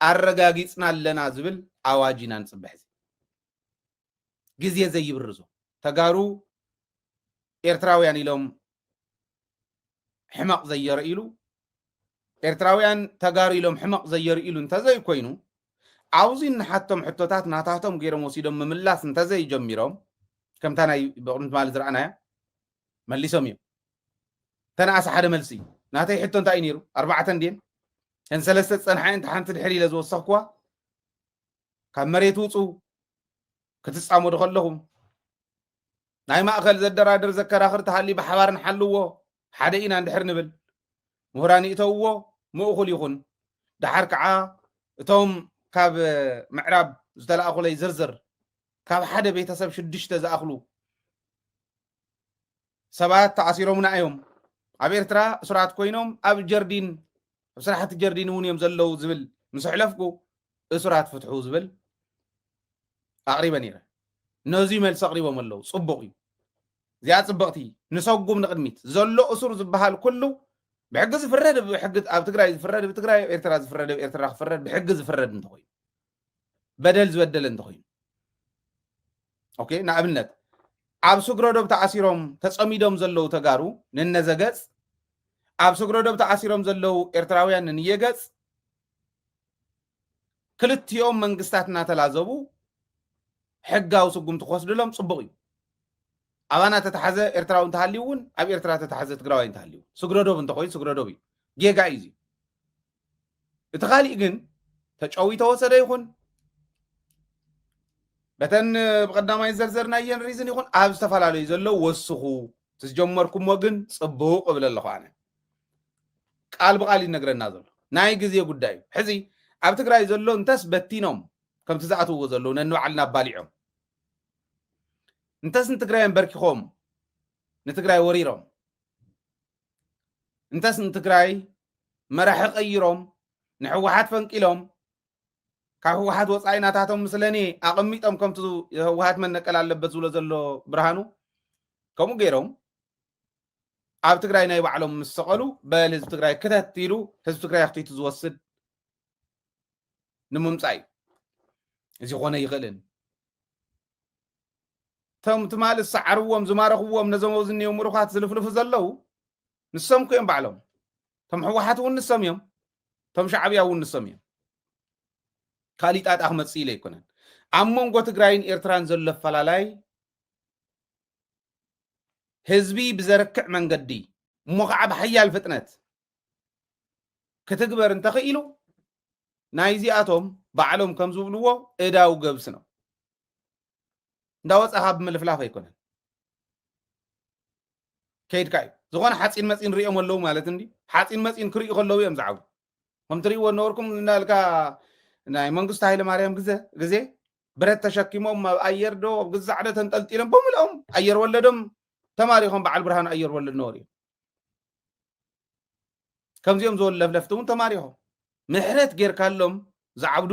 S1: ኣረጋጊፅና ኣለና ዝብል ኣዋጅ ኢና ንፅበሕ ግዜ ዘይብርዞ ተጋሩ ኤርትራውያን ኢሎም ሕመቕ ዘየርእሉ ኤርትራውያን ተጋሩ ኢሎም ሕመቕ ዘየርእሉ እንተዘይኮይኑ ኣብዚ እንሓቶም ሕቶታት ናታቶም ገይሮም ወሲዶም ምምላስ እንተዘይጀሚሮም ከምታ ናይ ብቕድሚ ትማሊ ዝረኣናያ መሊሶም እዮም ተነኣሰ ሓደ መልሲ እዩ ናተይ ሕቶ እንታይ እዩ ነይሩ ኣርባዕተ እንድየን እተን ሰለስተ ዝፀንሓ እየን ሓንቲ ድሕሪ ኢለ ዝወሰኽኩዋ ካብ መሬት ውፁ ክትፃመዱ ከለኹም ናይ ማእኸል ዘደራድር ዘከራኽር ተሃሊ ብሓባር ንሓልዎ ሓደ ኢና እንድሕር ንብል ምሁራን ይእተውዎ ምእኹል ይኹን ድሓር ከዓ እቶም ካብ ምዕራብ ዝተላእኹለይ ዝርዝር ካብ ሓደ ቤተሰብ ሽዱሽተ ዝኣኽሉ ሰባት ተኣሲሮምና እዮም ኣብ ኤርትራ እሱራት ኮይኖም ኣብ ጀርዲን ኣብ ስራሕቲ ጀርዲን እውን እዮም ዘለዉ ዝብል ምስ ኣሕለፍኩ እሱራት ፍትሑ ዝብል ኣቕሪበ ነይረ። ነዙይ መልሲ ኣቕሪቦም ኣለዉ። ፅቡቕ እዩ። እዚኣ ፅብቕቲ ንሰጉም ንቕድሚት ዘሎ እሱር ዝበሃል ኩሉ ብሕጊ ዝፍረድ ብሕጊ ኣብ ትግራይ ዝፍረድ ብትግራይ ኣብ ኤርትራ ዝፍረድ ኣብ ኤርትራ ክፍረድ ብሕጊ ዝፍረድ እንተኾይኑ በደል ዝበደለ እንተኾይኑ ኦኬ ንኣብነት ኣብ ስግረዶብ ተኣሲሮም ተፀሚዶም ዘለዉ ተጋሩ ንነዘገፅ ኣብ ስግረዶብ ተኣሲሮም ዘለዉ ኤርትራውያን ንንየገፅ ክልቲኦም መንግስታት እናተላዘቡ ሕጋዊ ስጉምቲ ክወስድሎም ፅቡቕ እዩ ኣባና ተተሓዘ ኤርትራዊ እንተሃልዩ እውን ኣብ ኤርትራ ተተሓዘ ትግራዋይ እንተሃልዩ ስግረዶብ እንተኮይኑ ስግረዶብ እዩ ጌጋ እዩ እቲ ካሊእ ግን ተጨዊ ተወሰደ ይኹን በተን ብቀዳማይ ዘርዘርናየን ሪዝን ይኹን ኣብ ዝተፈላለዩ ዘሎ ወስኹ ትዝጀመርኩሞ ግን ፅቡቅ እብል ኣለኹ ኣነ ቃል ብቃል ይነግረና ዘሎ ናይ ግዜ ጉዳይ እዩ ሕዚ ኣብ ትግራይ ዘሎ እንተስ በቲኖም ከምቲ ዝኣትውዎ ዘለዉ ነንባዕልና ኣባሊዖም እንተስ ንትግራይ ኣንበርኪኾም ንትግራይ ወሪሮም እንተስ ንትግራይ መራሒ ቀይሮም ንሕወሓት ፈንቂሎም ካብ ህወሓት ወፃኢ ናታቶም ምስለኒ ኣቐሚጦም ከምቲ ህወሓት መነቀል ኣለበት ዝብሎ ዘሎ ብርሃኑ ከምኡ ገይሮም ኣብ ትግራይ ናይ ባዕሎም ምስ ሰቐሉ በል ህዝቢ ትግራይ ክተት ኢሉ ህዝቢ ትግራይ ኣኽቲቱ ዝወስድ ንምምፃእ እዩ እዚ ኮነ ይኽእልን እቶም ትማሊ ዝሰዓርዎም ዝማረኽዎም ነዞም ኣብዚ እኒኦ ምሩኻት ዝልፍልፉ ዘለዉ ንሶም እኮ እዮም ባዕሎም እቶም ሕወሓት እውን ንሶም እዮም እቶም ሻዕብያ እውን ንሶም እዮም ካሊእ ጣጣ ክመፅእ ኢለ ኣይኮነን ኣብ መንጎ ትግራይን ኤርትራን ዘሎ ኣፈላላይ ህዝቢ ብዘርክዕ መንገዲ እሞ ከዓ ብሓያል ፍጥነት ክትግበር እንተኽኢሉ ናይዚኣቶም ባዕሎም ከም ዝብልዎ እዳው ገብስ ነው እንዳወፃኻ ብምልፍላፍ ኣይኮነን ከይድካ እዩ ዝኾነ ሓፂን መፂን ሪኦም ኣለዉ ማለት እንዲ ሓፂን መፂን ክርእዩ ከለዉ እዮም ዝዓቡ ከም ትርእይዎ ነበርኩም እናልካ ናይ መንግስቱ ሃይለ ማርያም ግዘ ግዜ ብረት ተሸኪሞም ኣብ ኣየር ዶ ኣብ ግዛዕ ዶ ተንጠልጢሎም ብምልኦም ኣየር ወለዶም ተማሪኾም በዓል ብርሃኑ ኣየር ወለድ ነበሩ እዮም ከምዚኦም ዝበሉ ለፍለፍቲ እውን ተማሪኾም ምሕረት ጌርካሎም ዝዓብዱ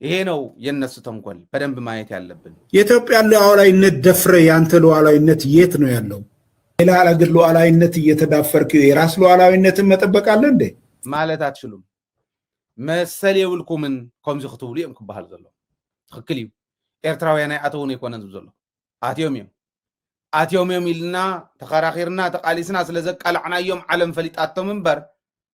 S1: ይሄ ነው የነሱ ተንኮል በደንብ ማየት ያለብን። የኢትዮጵያ ሉዓላዊነት
S2: ደፍረ ያንተ ሉዓላዊነት የት ነው ያለው? ሌላ አገር ሉዓላዊነት እየተዳፈርክ የራስ ሉዓላዊነትን መጠበቅ አለ እንዴ? ማለት አትችሉም
S1: መሰል የብልኩምን ከምዚ ክትብሉ እዮም ክበሃል ዘሎ ትክክል እዩ ኤርትራውያን ኣይኣተውን ኣይኮነን ዝብ ዘሎ ኣትዮም እዮም ኣትዮም እዮም ኢልና ተኸራኺርና ተቃሊስና ስለ ዘቃላዕናዮም ዓለም ፈሊጣቶም እምበር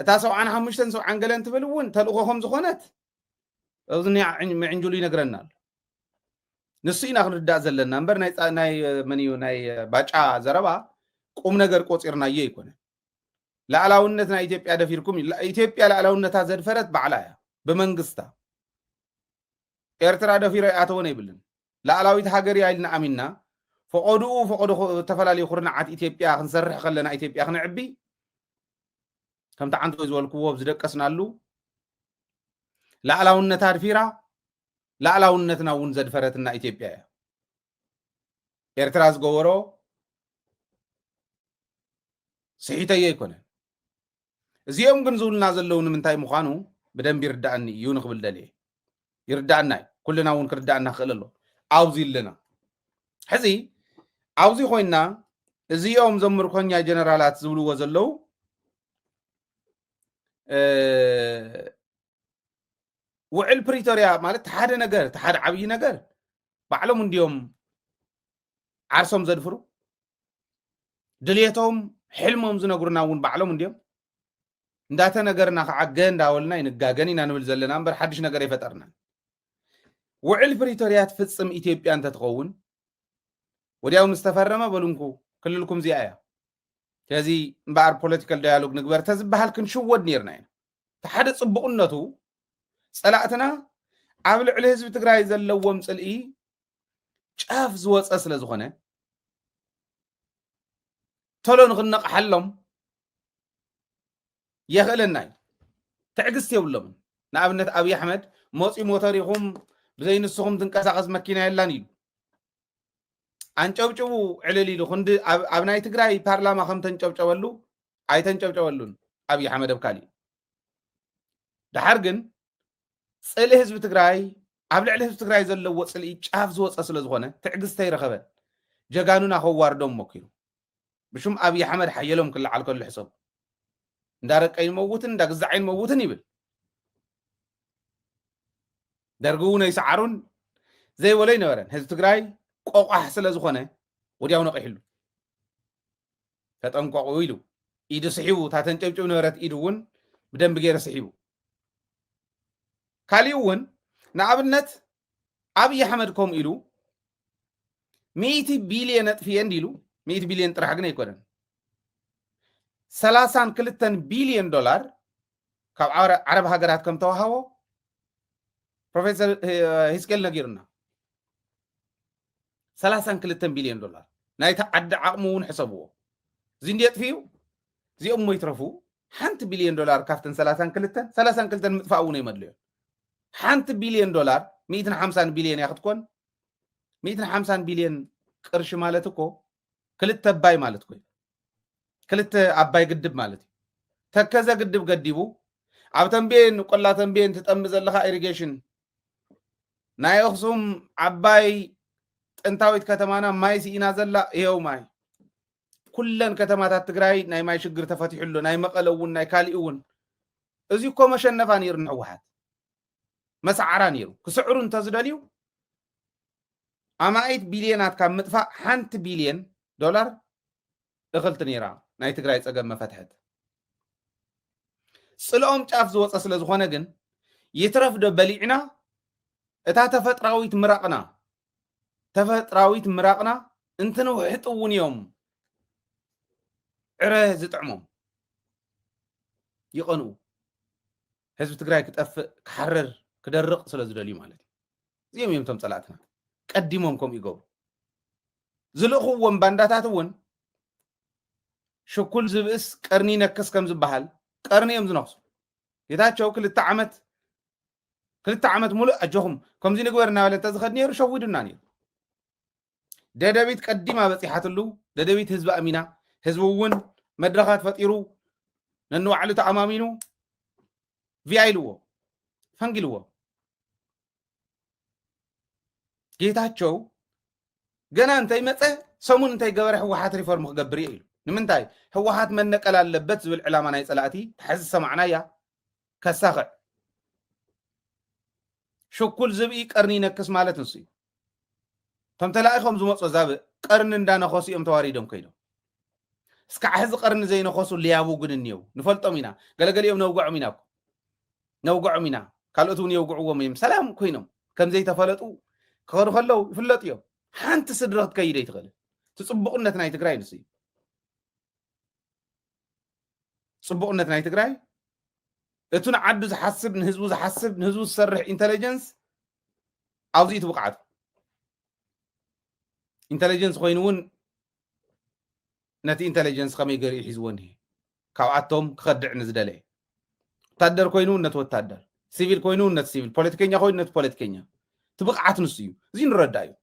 S1: እታ ሰብዓን ሓሙሽተን ሰብዓን ገለን ትብል እውን ተልእኾ ከም ዝኾነት ኣብዚ ምዕንጅሉ ይነግረና ኣሎ ንሱ ኢና ክንርዳእ ዘለና እምበር ናይ መን እዩ ናይ ባጫ ዘረባ ቁም ነገር ቆፂርናዮ ይኮነ ላዕላውነት ናይ ኢትዮጵያ ደፊርኩም ኢትዮጵያ ላዕላውነታ ዘድፈረት ባዕላ እያ ብመንግስታ ኤርትራ ደፊረ ይኣተወን የብልን ላእላዊት ሃገር እያ ኢልና ኣሚንና ፈቆድኡ ፈቆዶ ዝተፈላለዩ ኩርናዓት ኢትዮጵያ ክንሰርሕ ከለና ኢትዮጵያ ክንዕቢ ከምቲ ዓንተ ዝበልክዎ ኣብ ዝደቀስናሉ ላእላውነታ ኣድፊራ ላእላውነትና እውን ዘድፈረትና ኢትዮጵያ እያ ኤርትራ ዝገበሮ ስሒተዮ ኣይኮነን እዚኦም ግን ዝብሉና ዘለዉ ንምንታይ ምዃኑ ብደንቢ ይርዳእኒ እዩ ንክብል ደልየ ይርዳእና እዩ ኩልና እውን ክርዳእና ክእል ኣሎ ኣብዚ ኣለና ሕዚ ኣብዚ ኮይና እዚኦም እዞም ምርኮኛ ጀነራላት ዝብልዎ ዘለዉ ውዕል ፕሪቶርያ ማለት ሓደ ነገር ሓደ ዓብዪ ነገር ባዕሎም እንዲዮም ዓርሶም ዘድፍሩ ድልየቶም ሕልሞም ዝነግሩና እውን ባዕሎም እንዲዮም እንዳተነገርና ከዓ ገ እንዳበልና ይንጋገን ኢና ንብል ዘለና እምበር ሓድሽ ነገር ይፈጠርና ውዕል ፕሪቶርያ ትፍፅም ኢትዮጵያ እንተትኸውን ወዲያው ምስ ተፈረመ በሉንኩ ክልልኩም እዚኣ እያ ስለዚ እምበኣር ፖለቲካል ዳያሎግ ንግበር ተዝበሃል ክንሽወድ ነርና ኢና እቲ ሓደ ፅቡቕነቱ ፀላእትና ኣብ ልዕሊ ህዝቢ ትግራይ ዘለዎም ፅልኢ ጫፍ ዝወፀ ስለ ዝኾነ ተሎ ንክነቕሓሎም የኽእለና እዩ ትዕግስቲ የብሎምን ንኣብነት ኣብዪ ኣሕመድ ሞፂ ሞተር ኢኹም ብዘይ ንስኹም ትንቀሳቐስ መኪና የላን ኢሉ ኣንጨብጭቡ ዕልል ኢሉ ክንዲ ኣብ ናይ ትግራይ ፓርላማ ከም ተንጨብጨበሉ ኣይተንጨብጨበሉን ኣብዪ ኣሕመድ ኣብ ካሊእ ድሓር ግን ፅልኢ ህዝቢ ትግራይ ኣብ ልዕሊ ህዝቢ ትግራይ ዘለዎ ፅልኢ ጫፍ ዝወፀ ስለዝኾነ ትዕግስቲ ኣይረኸበን ጀጋኑና ከዋርዶም ሞኪሩ ብሹም ኣብይ ኣሕመድ ሓየሎም ክለዓል ከሎ ሕሰቡ እንዳረቀይን መውትን እንዳግዛዐይን መውትን ይብል ደርጊ እውን ኣይሰዓሩን ዘይበሎ ኣይነበረን ህዝቢ ትግራይ ቆቋሕ ስለዝኾነ ወዲያው ነቂሕሉ ተጠንቀቑ ኢሉ ኢዱ ስሒቡ እታ ተንጨብጭብ ነበረት ኢዱ እውን ብደንቢ ገይረ ስሒቡ ካሊእ እውን ንኣብነት ኣብዪ ኣሕመድ ከምኡ ኢሉ ሚእቲ ቢልየን ኣጥፍየ እንዲ ኢሉ ሚእቲ ቢልየን ጥራሕ ግን ኣይኮነን ሰላሳን ክልተን ቢልየን ዶላር ካብ ዓረብ ሃገራት ከም ተዋሃቦ ፕሮፌሰር ሂስኬል ነጊሩና ሰላሳን ክልተን ቢልዮን ዶላር ናይታ ዓዲ ዓቕሚ እውን ሕሰብዎ እዚ እንዲ የጥፍኡ እዚኦም እሞ ይትረፉ ሓንቲ ቢልዮን ዶላር ካብተን ሰላሳን ክልተን ሰላሳን ክልተን ምጥፋእ እውን የመድልዮ ሓንቲ ቢልዮን ዶላር ሚእትን ሓምሳን ቢልዮን እያ ክትኮን ሚእትን ሓምሳን ቢልዮን ቅርሺ ማለት እኮ ክልተ ኣባይ ማለት ኮይኑ ክልተ ኣባይ ግድብ ማለት እዩ ተከዘ ግድብ ገዲቡ ኣብ ተንቤን ቆላ ተንቤን ትጠሚ ዘለካ ኢሪጌሽን ናይ ኣክሱም ዓባይ ጥንታዊት ከተማና ማይ ስኢና ዘላ ይሄው ማይ ኩለን ከተማታት ትግራይ ናይ ማይ ሽግር ተፈቲሑ ኣሎ ናይ መቐለ እውን ናይ ካሊእ እውን እዚ እኮ መሸነፋ ነይሩ ንሕወሓት መሰዓራ ነይሩ ክስዕሩ እንተዝደልዩ ኣማኢት ቢልየናት ካብ ምጥፋእ ሓንቲ ቢልየን ዶላር እኽልቲ ነይራ ናይ ትግራይ ፀገም መፈትሐት። ፅልኦም ጫፍ ዝወፀ ስለ ዝኾነ ግን ይትረፍ ዶ በሊዕና እታ ተፈጥራዊት ምራቕና ተፈጥራዊት ምራቕና እንትንውሕጥ እውን እዮም ዕረ ዝጥዕሞም ይቐንኡ። ህዝቢ ትግራይ ክጠፍእ ክሓርር ክደርቕ ስለ ዝደልዩ ማለት እዩ እዚኦም እዮም እቶም ፀላእትና ቀዲሞም ከምኡ ይገብሩ ዝልእኽዎም ባንዳታት እውን ሽኩል ዝብእስ ቀርኒ ነክስ ከም ዝበሃል ቀርኒ እዮም ዝነክሱ ጌታቸው ክልተ ዓመት ክልተ ዓመት ሙሉእ ኣጆኹም ከምዚ ንግበር እናበለ እንተዝኸድ ነይሩ ሸዊዱና ነይሩ ደደቢት ቀዲማ በጺሓትሉ፣ ደደቢት ህዝቢ ኣሚና፣ ህዝቢ እውን መድረኻት ፈጢሩ ነንባዕሉ ተኣማሚኑ ቪያ ኢልዎ ፈንጊልዎ። ጌታቸው ገና እንተይመፀ ሰሙን እንተይገበረ ህወሓት ሪፎርም ክገብር እየ ኢሉ ንምንታይ ህወሓት መነቀል ኣለበት ዝብል ዕላማ ናይ ፀላእቲ ተሓዚ ሰማዕናያ ከሳኽዕ ሽኩል ዝብኢ ቀርኒ ይነክስ ማለት ንሱ እዩ እቶም ተላኢኾም ዝመፁ ኣዛብእ ቐርኒ እንዳነኸሱ እዮም ተዋሪዶም ከይዶም። እስካዕ ሕዚ ቐርኒ ዘይነኸሱ ሌያቡ ግን እኒየው። ንፈልጦም ኢና። ገለገሊኦም ነውገዖም ኢና እኮ። ነውገዖም ኢና። ካልኦት እውን የውግዕዎም እዮም። ሰላም ኮይኖም ከም ዘይተፈለጡ ክኸዱ ከለው ይፍለጡ እዮም። ሓንቲ ስድሪ ክትከይድ ኣይትኽእልን። እቲ ፅቡቕነት ናይ ትግራይ ንሱ እዩ። ፅቡቕነት ናይ ትግራይ እቲ ንዓዱ ዝሓስብ ንህዝቡ ዝሓስብ ንህዝቡ ዝሰርሕ ኢንተለጀንስ ኣብዚ እቲ ብቕዓቱ ኢንተለጀንስ ኮይኑ እውን ነቲ ኢንተለጀንስ ከመይ ገሊኡ ሒዝዎ እኒሄ ካብኣቶም ክኸድዕ ንዝደለየ ወታደር ኮይኑ እውን ነቲ ወታደር ሲቪል ኮይኑ እውን ነቲ ሲቪል ፖለቲከኛ ኮይኑ ነቲ ፖለቲከኛ እቲ ብቕዓት ንሱ እዩ እዚ ንረዳእ እዩ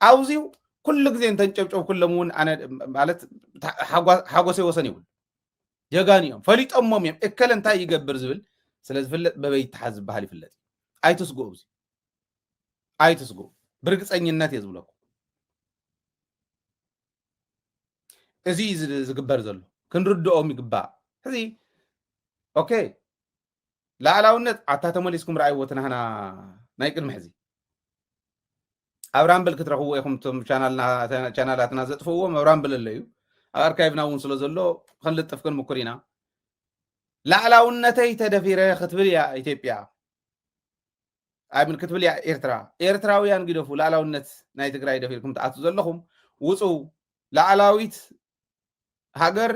S1: ኣብዚዩ ኩሉ ግዜ እንተንጨብጨብ ኩሎም እውን ኣነ ማለት ሓጎሰይ ወሰን ይብሉ ጀጋኑ እዮም ፈሊጦሞም እዮም እከለ እንታይ ይገብር ዝብል ስለ ዝፍለጥ በበይ ይተሓዝ ዝበሃል ይፍለጥ ኣይትስግኡ ብዚ ኣይትስግኡ ብርግፀኝነት እየ ዝብለኩም እዚ ዝግበር ዘሎ ክንርድኦም ይግባእ ሕዚ ኦኬ ላዕላውነት ኣታ ተመሊስኩም ረኣይዎ ትናህና ናይ ቅድሚ ሕዚ ኣብ ራምብል ክትረኽብዎ ኢኹም ቶም ቻናላትና ዘጥፍእዎም ኣብ ራምብል ኣሎ እዩ ኣብ ኣርካይቭና እውን ስለ ዘሎ ክንልጥፍ ክንምኩር ኢና ላዕላውነተይ ተደፊረ ክትብል እያ ኢትዮጵያ ኣይምን ክትብል እያ ኤርትራ ኤርትራውያን ግደፉ ላዕላውነት ናይ ትግራይ ደፊርኩም ትኣቱ ዘለኹም ውፁ ላዕላዊት ሃገር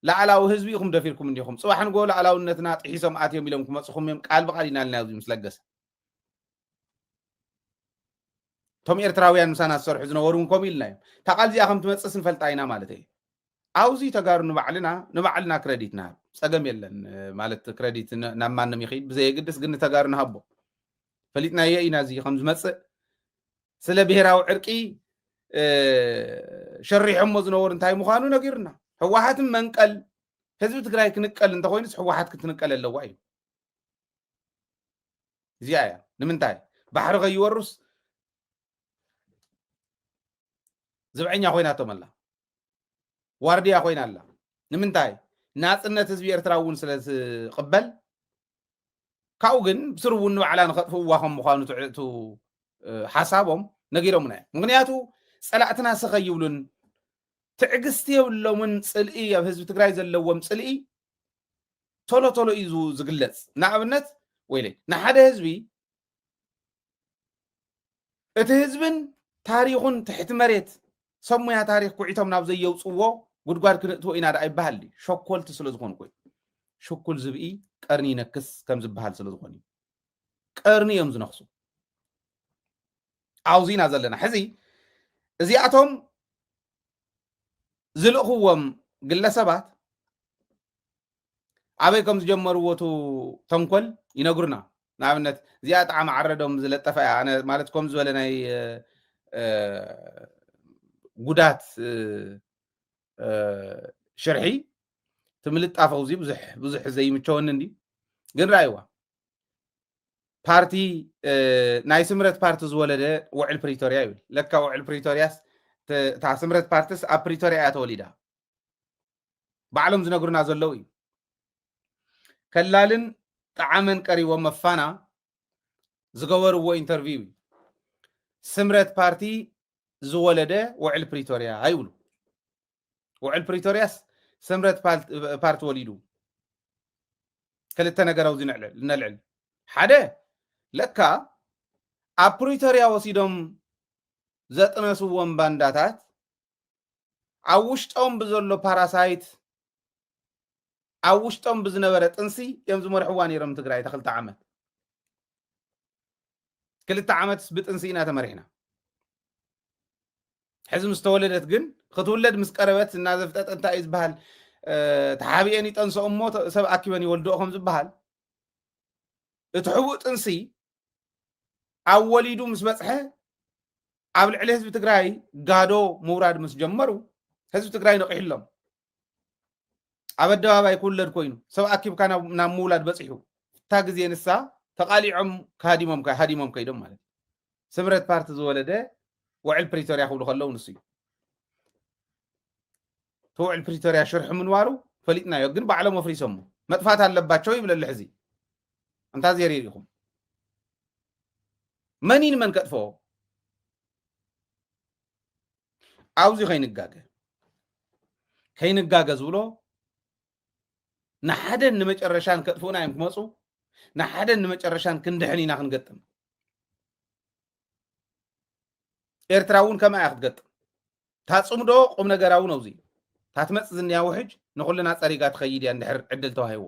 S1: ላዕላዊ ህዝቢ ኢኹም ደፊርኩም እንዲኹም ፅባሕ ንጎ ላዕላውነትና ጥሒሶም ኣትዮም ኢሎም ክመፅኹም እዮም ቃል ብቃል ኢና ኢልና ኣብዚ ምስ ለገሰ እቶም ኤርትራውያን ምሳና ዝሰርሑ ዝነበሩ እውን ከምኡ ኢልና እዮም እታ ቃል እዚኣ ከም ትመፅስ ንፈልጣ ኢና ማለት እዩ ኣብዚ ተጋሩ ንባዕልና ንባዕልና ክረዲት ንሃብ ፀገም የለን ማለት ክረዲት ናብ ማንም ይኽድ ብዘየግድስ ግን ንተጋሩ ንሃቦ ፈሊጥናዮ ኢና እዚ ከም ዝመፅእ ስለ ብሄራዊ ዕርቂ ሸሪሖሞ ዝነበሩ እንታይ ምዃኑ ነጊሩና ህወሓትን መንቀል ህዝቢ ትግራይ ክንቀል እንተኮይኑስ ህወሓት ክትንቀል ኣለዋ እዩ እዚኣ እያ ንምንታይ ባሕሪ ከይወሩስ ዝብዐኛ ኮይናቶም ኣላ ዋርድያ ኮይና ኣላ ንምንታይ ናፅነት ህዝቢ ኤርትራ እውን ስለ ዝቕበል ካብኡ ግን ብስሩ እውን ንባዕላ ንኸጥፍእዋ ከም ምኳኑ ትዕእቱ ሓሳቦም ነጊሮምና እዮም ምክንያቱ ፀላእትና ስኸ ይብሉን ትዕግስቲ የብሎምን ፅልኢ ኣብ ህዝቢ ትግራይ ዘለዎም ፅልኢ ቶሎ ቶሎ እዩ ዝ- ዝግለጽ ንኣብነት ወይለይ ንሓደ ህዝቢ እቲ ህዝብን ታሪኹን ትሕቲ መሬት ሰብ ሙያ ታሪክ ኩዒቶም ናብ ዘየውፅዎ ጉድጓድ ክንእትዎ ኢና ደኣ ይበሃል ድዩ? ሸኮልቲ ስለ ዝኾኑ ኮይ ሽኩል ዝብኢ ቀርኒ ይነክስ ከም ዝበሃል ስለ ዝኾኑ እዩ ቀርኒ እዮም ዝነክሱ ኣብዚ ኢና ዘለና ሕዚ እዚኣቶም ዝልእኽዎም ግለሰባት ኣበይ ከም ዝጀመርዎ እቲ ተንኮል ይነግሩና ንኣብነት እዚኣ ጣዕሚ ዓረዶም ዝለጠፈ እያ ኣነ ማለት ከም ዝበለ ናይ ጉዳት ሽርሒ እቲ ምልጣፍ ኣውዚ ብዙሕ ዘይምቸወኒ እንዲ ግን ራእይዋ ፓርቲ ናይ ስምረት ፓርቲ ዝወለደ ውዕል ፕሪቶርያ ይብል ለካ ውዕል ፕሪቶርያስ እታ ስምረት ፓርቲስ ኣብ ፕሪቶርያ እያ ተወሊዳ ባዕሎም ዝነግሩና ዘለው እዩ ከላልን ጣዓመን ቀሪቦ መፋና ዝገበርዎ ኢንተርቪው እዩ ስምረት ፓርቲ ዝወለደ ውዕል ፕሪቶርያ ይብሉ ውዕል ፕሪቶርያስ ስምረት ፓርቲ ወሊዱ ክልተ ነገር ኣብዚ ነልዕል ሓደ ለካ ኣብ ፕሪቶርያ ወሲዶም ዘጥነስዎም ባንዳታት ኣብ ውሽጦም ብዘሎ ፓራሳይት ኣብ ውሽጦም ብዝነበረ ጥንሲ እዮም ዝመርሕዋ ነይሮም ትግራይ እታ ክልተ ዓመት ክልተ ዓመትስ ብጥንሲ ኢና ተመሪሕና ሕዚ ምስ ተወለደት ግን ክትውለድ ምስ ቀረበት እናዘፍጠጠ እንታይ እዩ ዝበሃል ተሓቢኤን ይጠንሰኦ እሞ ሰብ ኣኪበን ይወልድኦ ከም ዝበሃል እቲ ሕቡእ ጥንሲ ኣብ ወሊዱ ምስ በፅሐ ኣብ ልዕሊ ህዝቢ ትግራይ ጋዶ ምውራድ ምስ ጀመሩ ህዝቢ ትግራይ ነቂሕሎም ኣብ ኣደባባይ ክውለድ ኮይኑ ሰብ ኣኪብካ ናብ ምውላድ በፂሑ እታ ግዜ ንሳ ተቃሊዖም ሃዲሞም ሃዲሞም ከይዶም ማለት እዩ ስምረት ፓርቲ ዝወለደ ውዕል ፕሪቶርያ ክብሉ ከለዉ ንሱ እዩ እቲ ውዕል ፕሪቶርያ ሽርሒ ምንባሩ ፈሊጥናዮ ግን ባዕሎም ኣፍሪሶሞ መጥፋት ኣለባቸው ይብለሉ ሕዚ እንታ ዜር ኢኹም መን እዩ ንመን ከጥፍኦ ኣብዚ ከይንጋገ ከይንጋገ ዝብሎ ንሓደን ንመጨረሻን ከጥፍኡና እዮም ክመፁ ንሓደን ንመጨረሻን ክንድሕን ኢና ክንገጥም ኤርትራ እውን ከምኣ እያ ክትገጥም ታፅምዶ ቁም ነገራዊ ነውዚ ታትመፅ ዝንያ ውሕጅ ንኩልና ፀሪጋ ትኸይድ እያ እንድሕር ዕድል ተዋሂዋ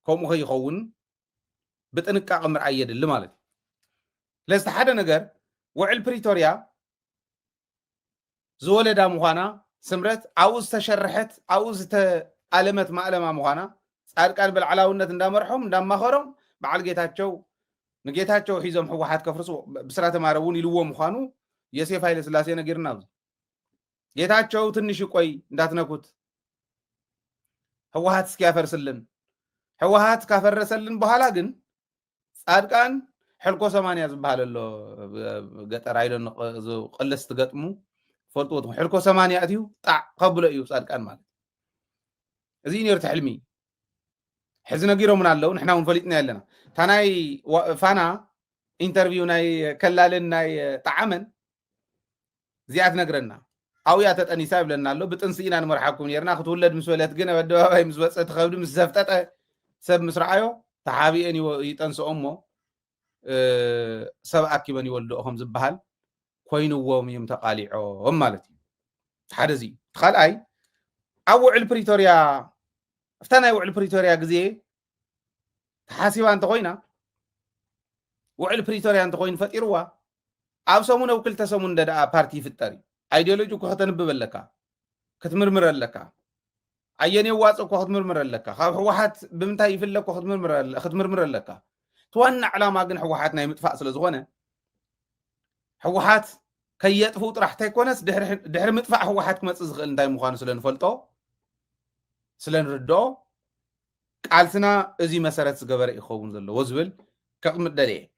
S1: ከምኡ ከይኸውን ብጥንቃቐ ምርኣይ የድሊ ማለት እዩ። ስለዚ ሓደ ነገር ውዕል ፕሪቶርያ ዝወለዳ ምዃና ስምረት ኣብኡ ዝተሸርሐት ኣብኡ ዝተኣለመት ማእለማ ምዃና ፃድቃን ብላዕላውነት እንዳመርሖም እንዳማኸሮም በዓል ጌታቸው ንጌታቸው ሒዞም ህወሓት ከፍርሱ ብስራተ ማረ እውን ኢልዎ ምዃኑ የሴፍ ሃይለ ስላሴ ነጊርና ኣብዚ ጌታቸው ትንሽ ይቆይ እንዳትነኩት። ህወሀት እስኪያፈርስልን ህወሀት ካፈረሰልን በኋላ ግን ፃድቃን ሕልኮ ሰማንያ ዝበሃል ኣሎ ገጠር ኣይሎ ቅልስ ትገጥሙ ፈልጥዎ ትኹን ሕልኮ ሰማንያ እትዩ ጣዕ ከብሎ እዩ ፃድቃን ማለት እዚ እዩ ነሩ ትሕልሚ ሕዚ ነጊሮምና ኣለው ንሕና እውን ፈሊጥና ኣለና እታ ናይ ፋና ኢንተርቪው ናይ ከላልን ናይ ጣዓመን እዚኣ ትነግረና ኣብያ ተጠኒሳ ይብለና ኣሎ ብጥንሲ ኢና ንመርሓኩም ነርና ክትውለድ ምስ በለት ግን ኣብ ኣደባባይ ምስ ወፀ ትኸብዲ ምስ ዘፍጠጠ ሰብ ምስ ረኣዮ ተሓቢኤን ይጠንስኦ እሞ ሰብ ኣኪበን ይወልድኦ ከም ዝበሃል ኮይንዎም እዮም ተቃሊዖም ማለት እዩ ሓደ እዚ እቲ ካልኣይ ኣብ ውዕል ፕሪቶርያ እፍታ ናይ ውዕል ፕሪቶርያ ግዜ ተሓሲባ እንተኾይና ውዕል ፕሪቶርያ እንተኾይኑ ፈጢርዋ ኣብ ሰሙን ኣብ ክልተ ሰሙን እንደ ደኣ ፓርቲ ይፍጠር እዩ ኣይዲዮሎጂ እኮ ከተንብብ ኣለካ ክትምርምር ኣለካ ኣየን የዋፅ እኮ ክትምርምር ኣለካ ካብ ህወሓት ብምንታይ ይፍለ እኮ ክትምርምር ኣለካ እቲ ዋና ዕላማ ግን ህወሓት ናይ ምጥፋእ ስለ ዝኾነ ህወሓት ከየጥፍኡ ጥራሕ እንተይኮነስ ድሕሪ ምጥፋእ ህወሓት ክመፅእ ዝኽእል እንታይ ምዃኑ ስለ ንፈልጦ ስለ ንርድኦ ቃልስና እዚ መሰረት ዝገበረ ኢዩ ክኸውን ዘለዎ ዝብል ከቕምጥ ደልየ።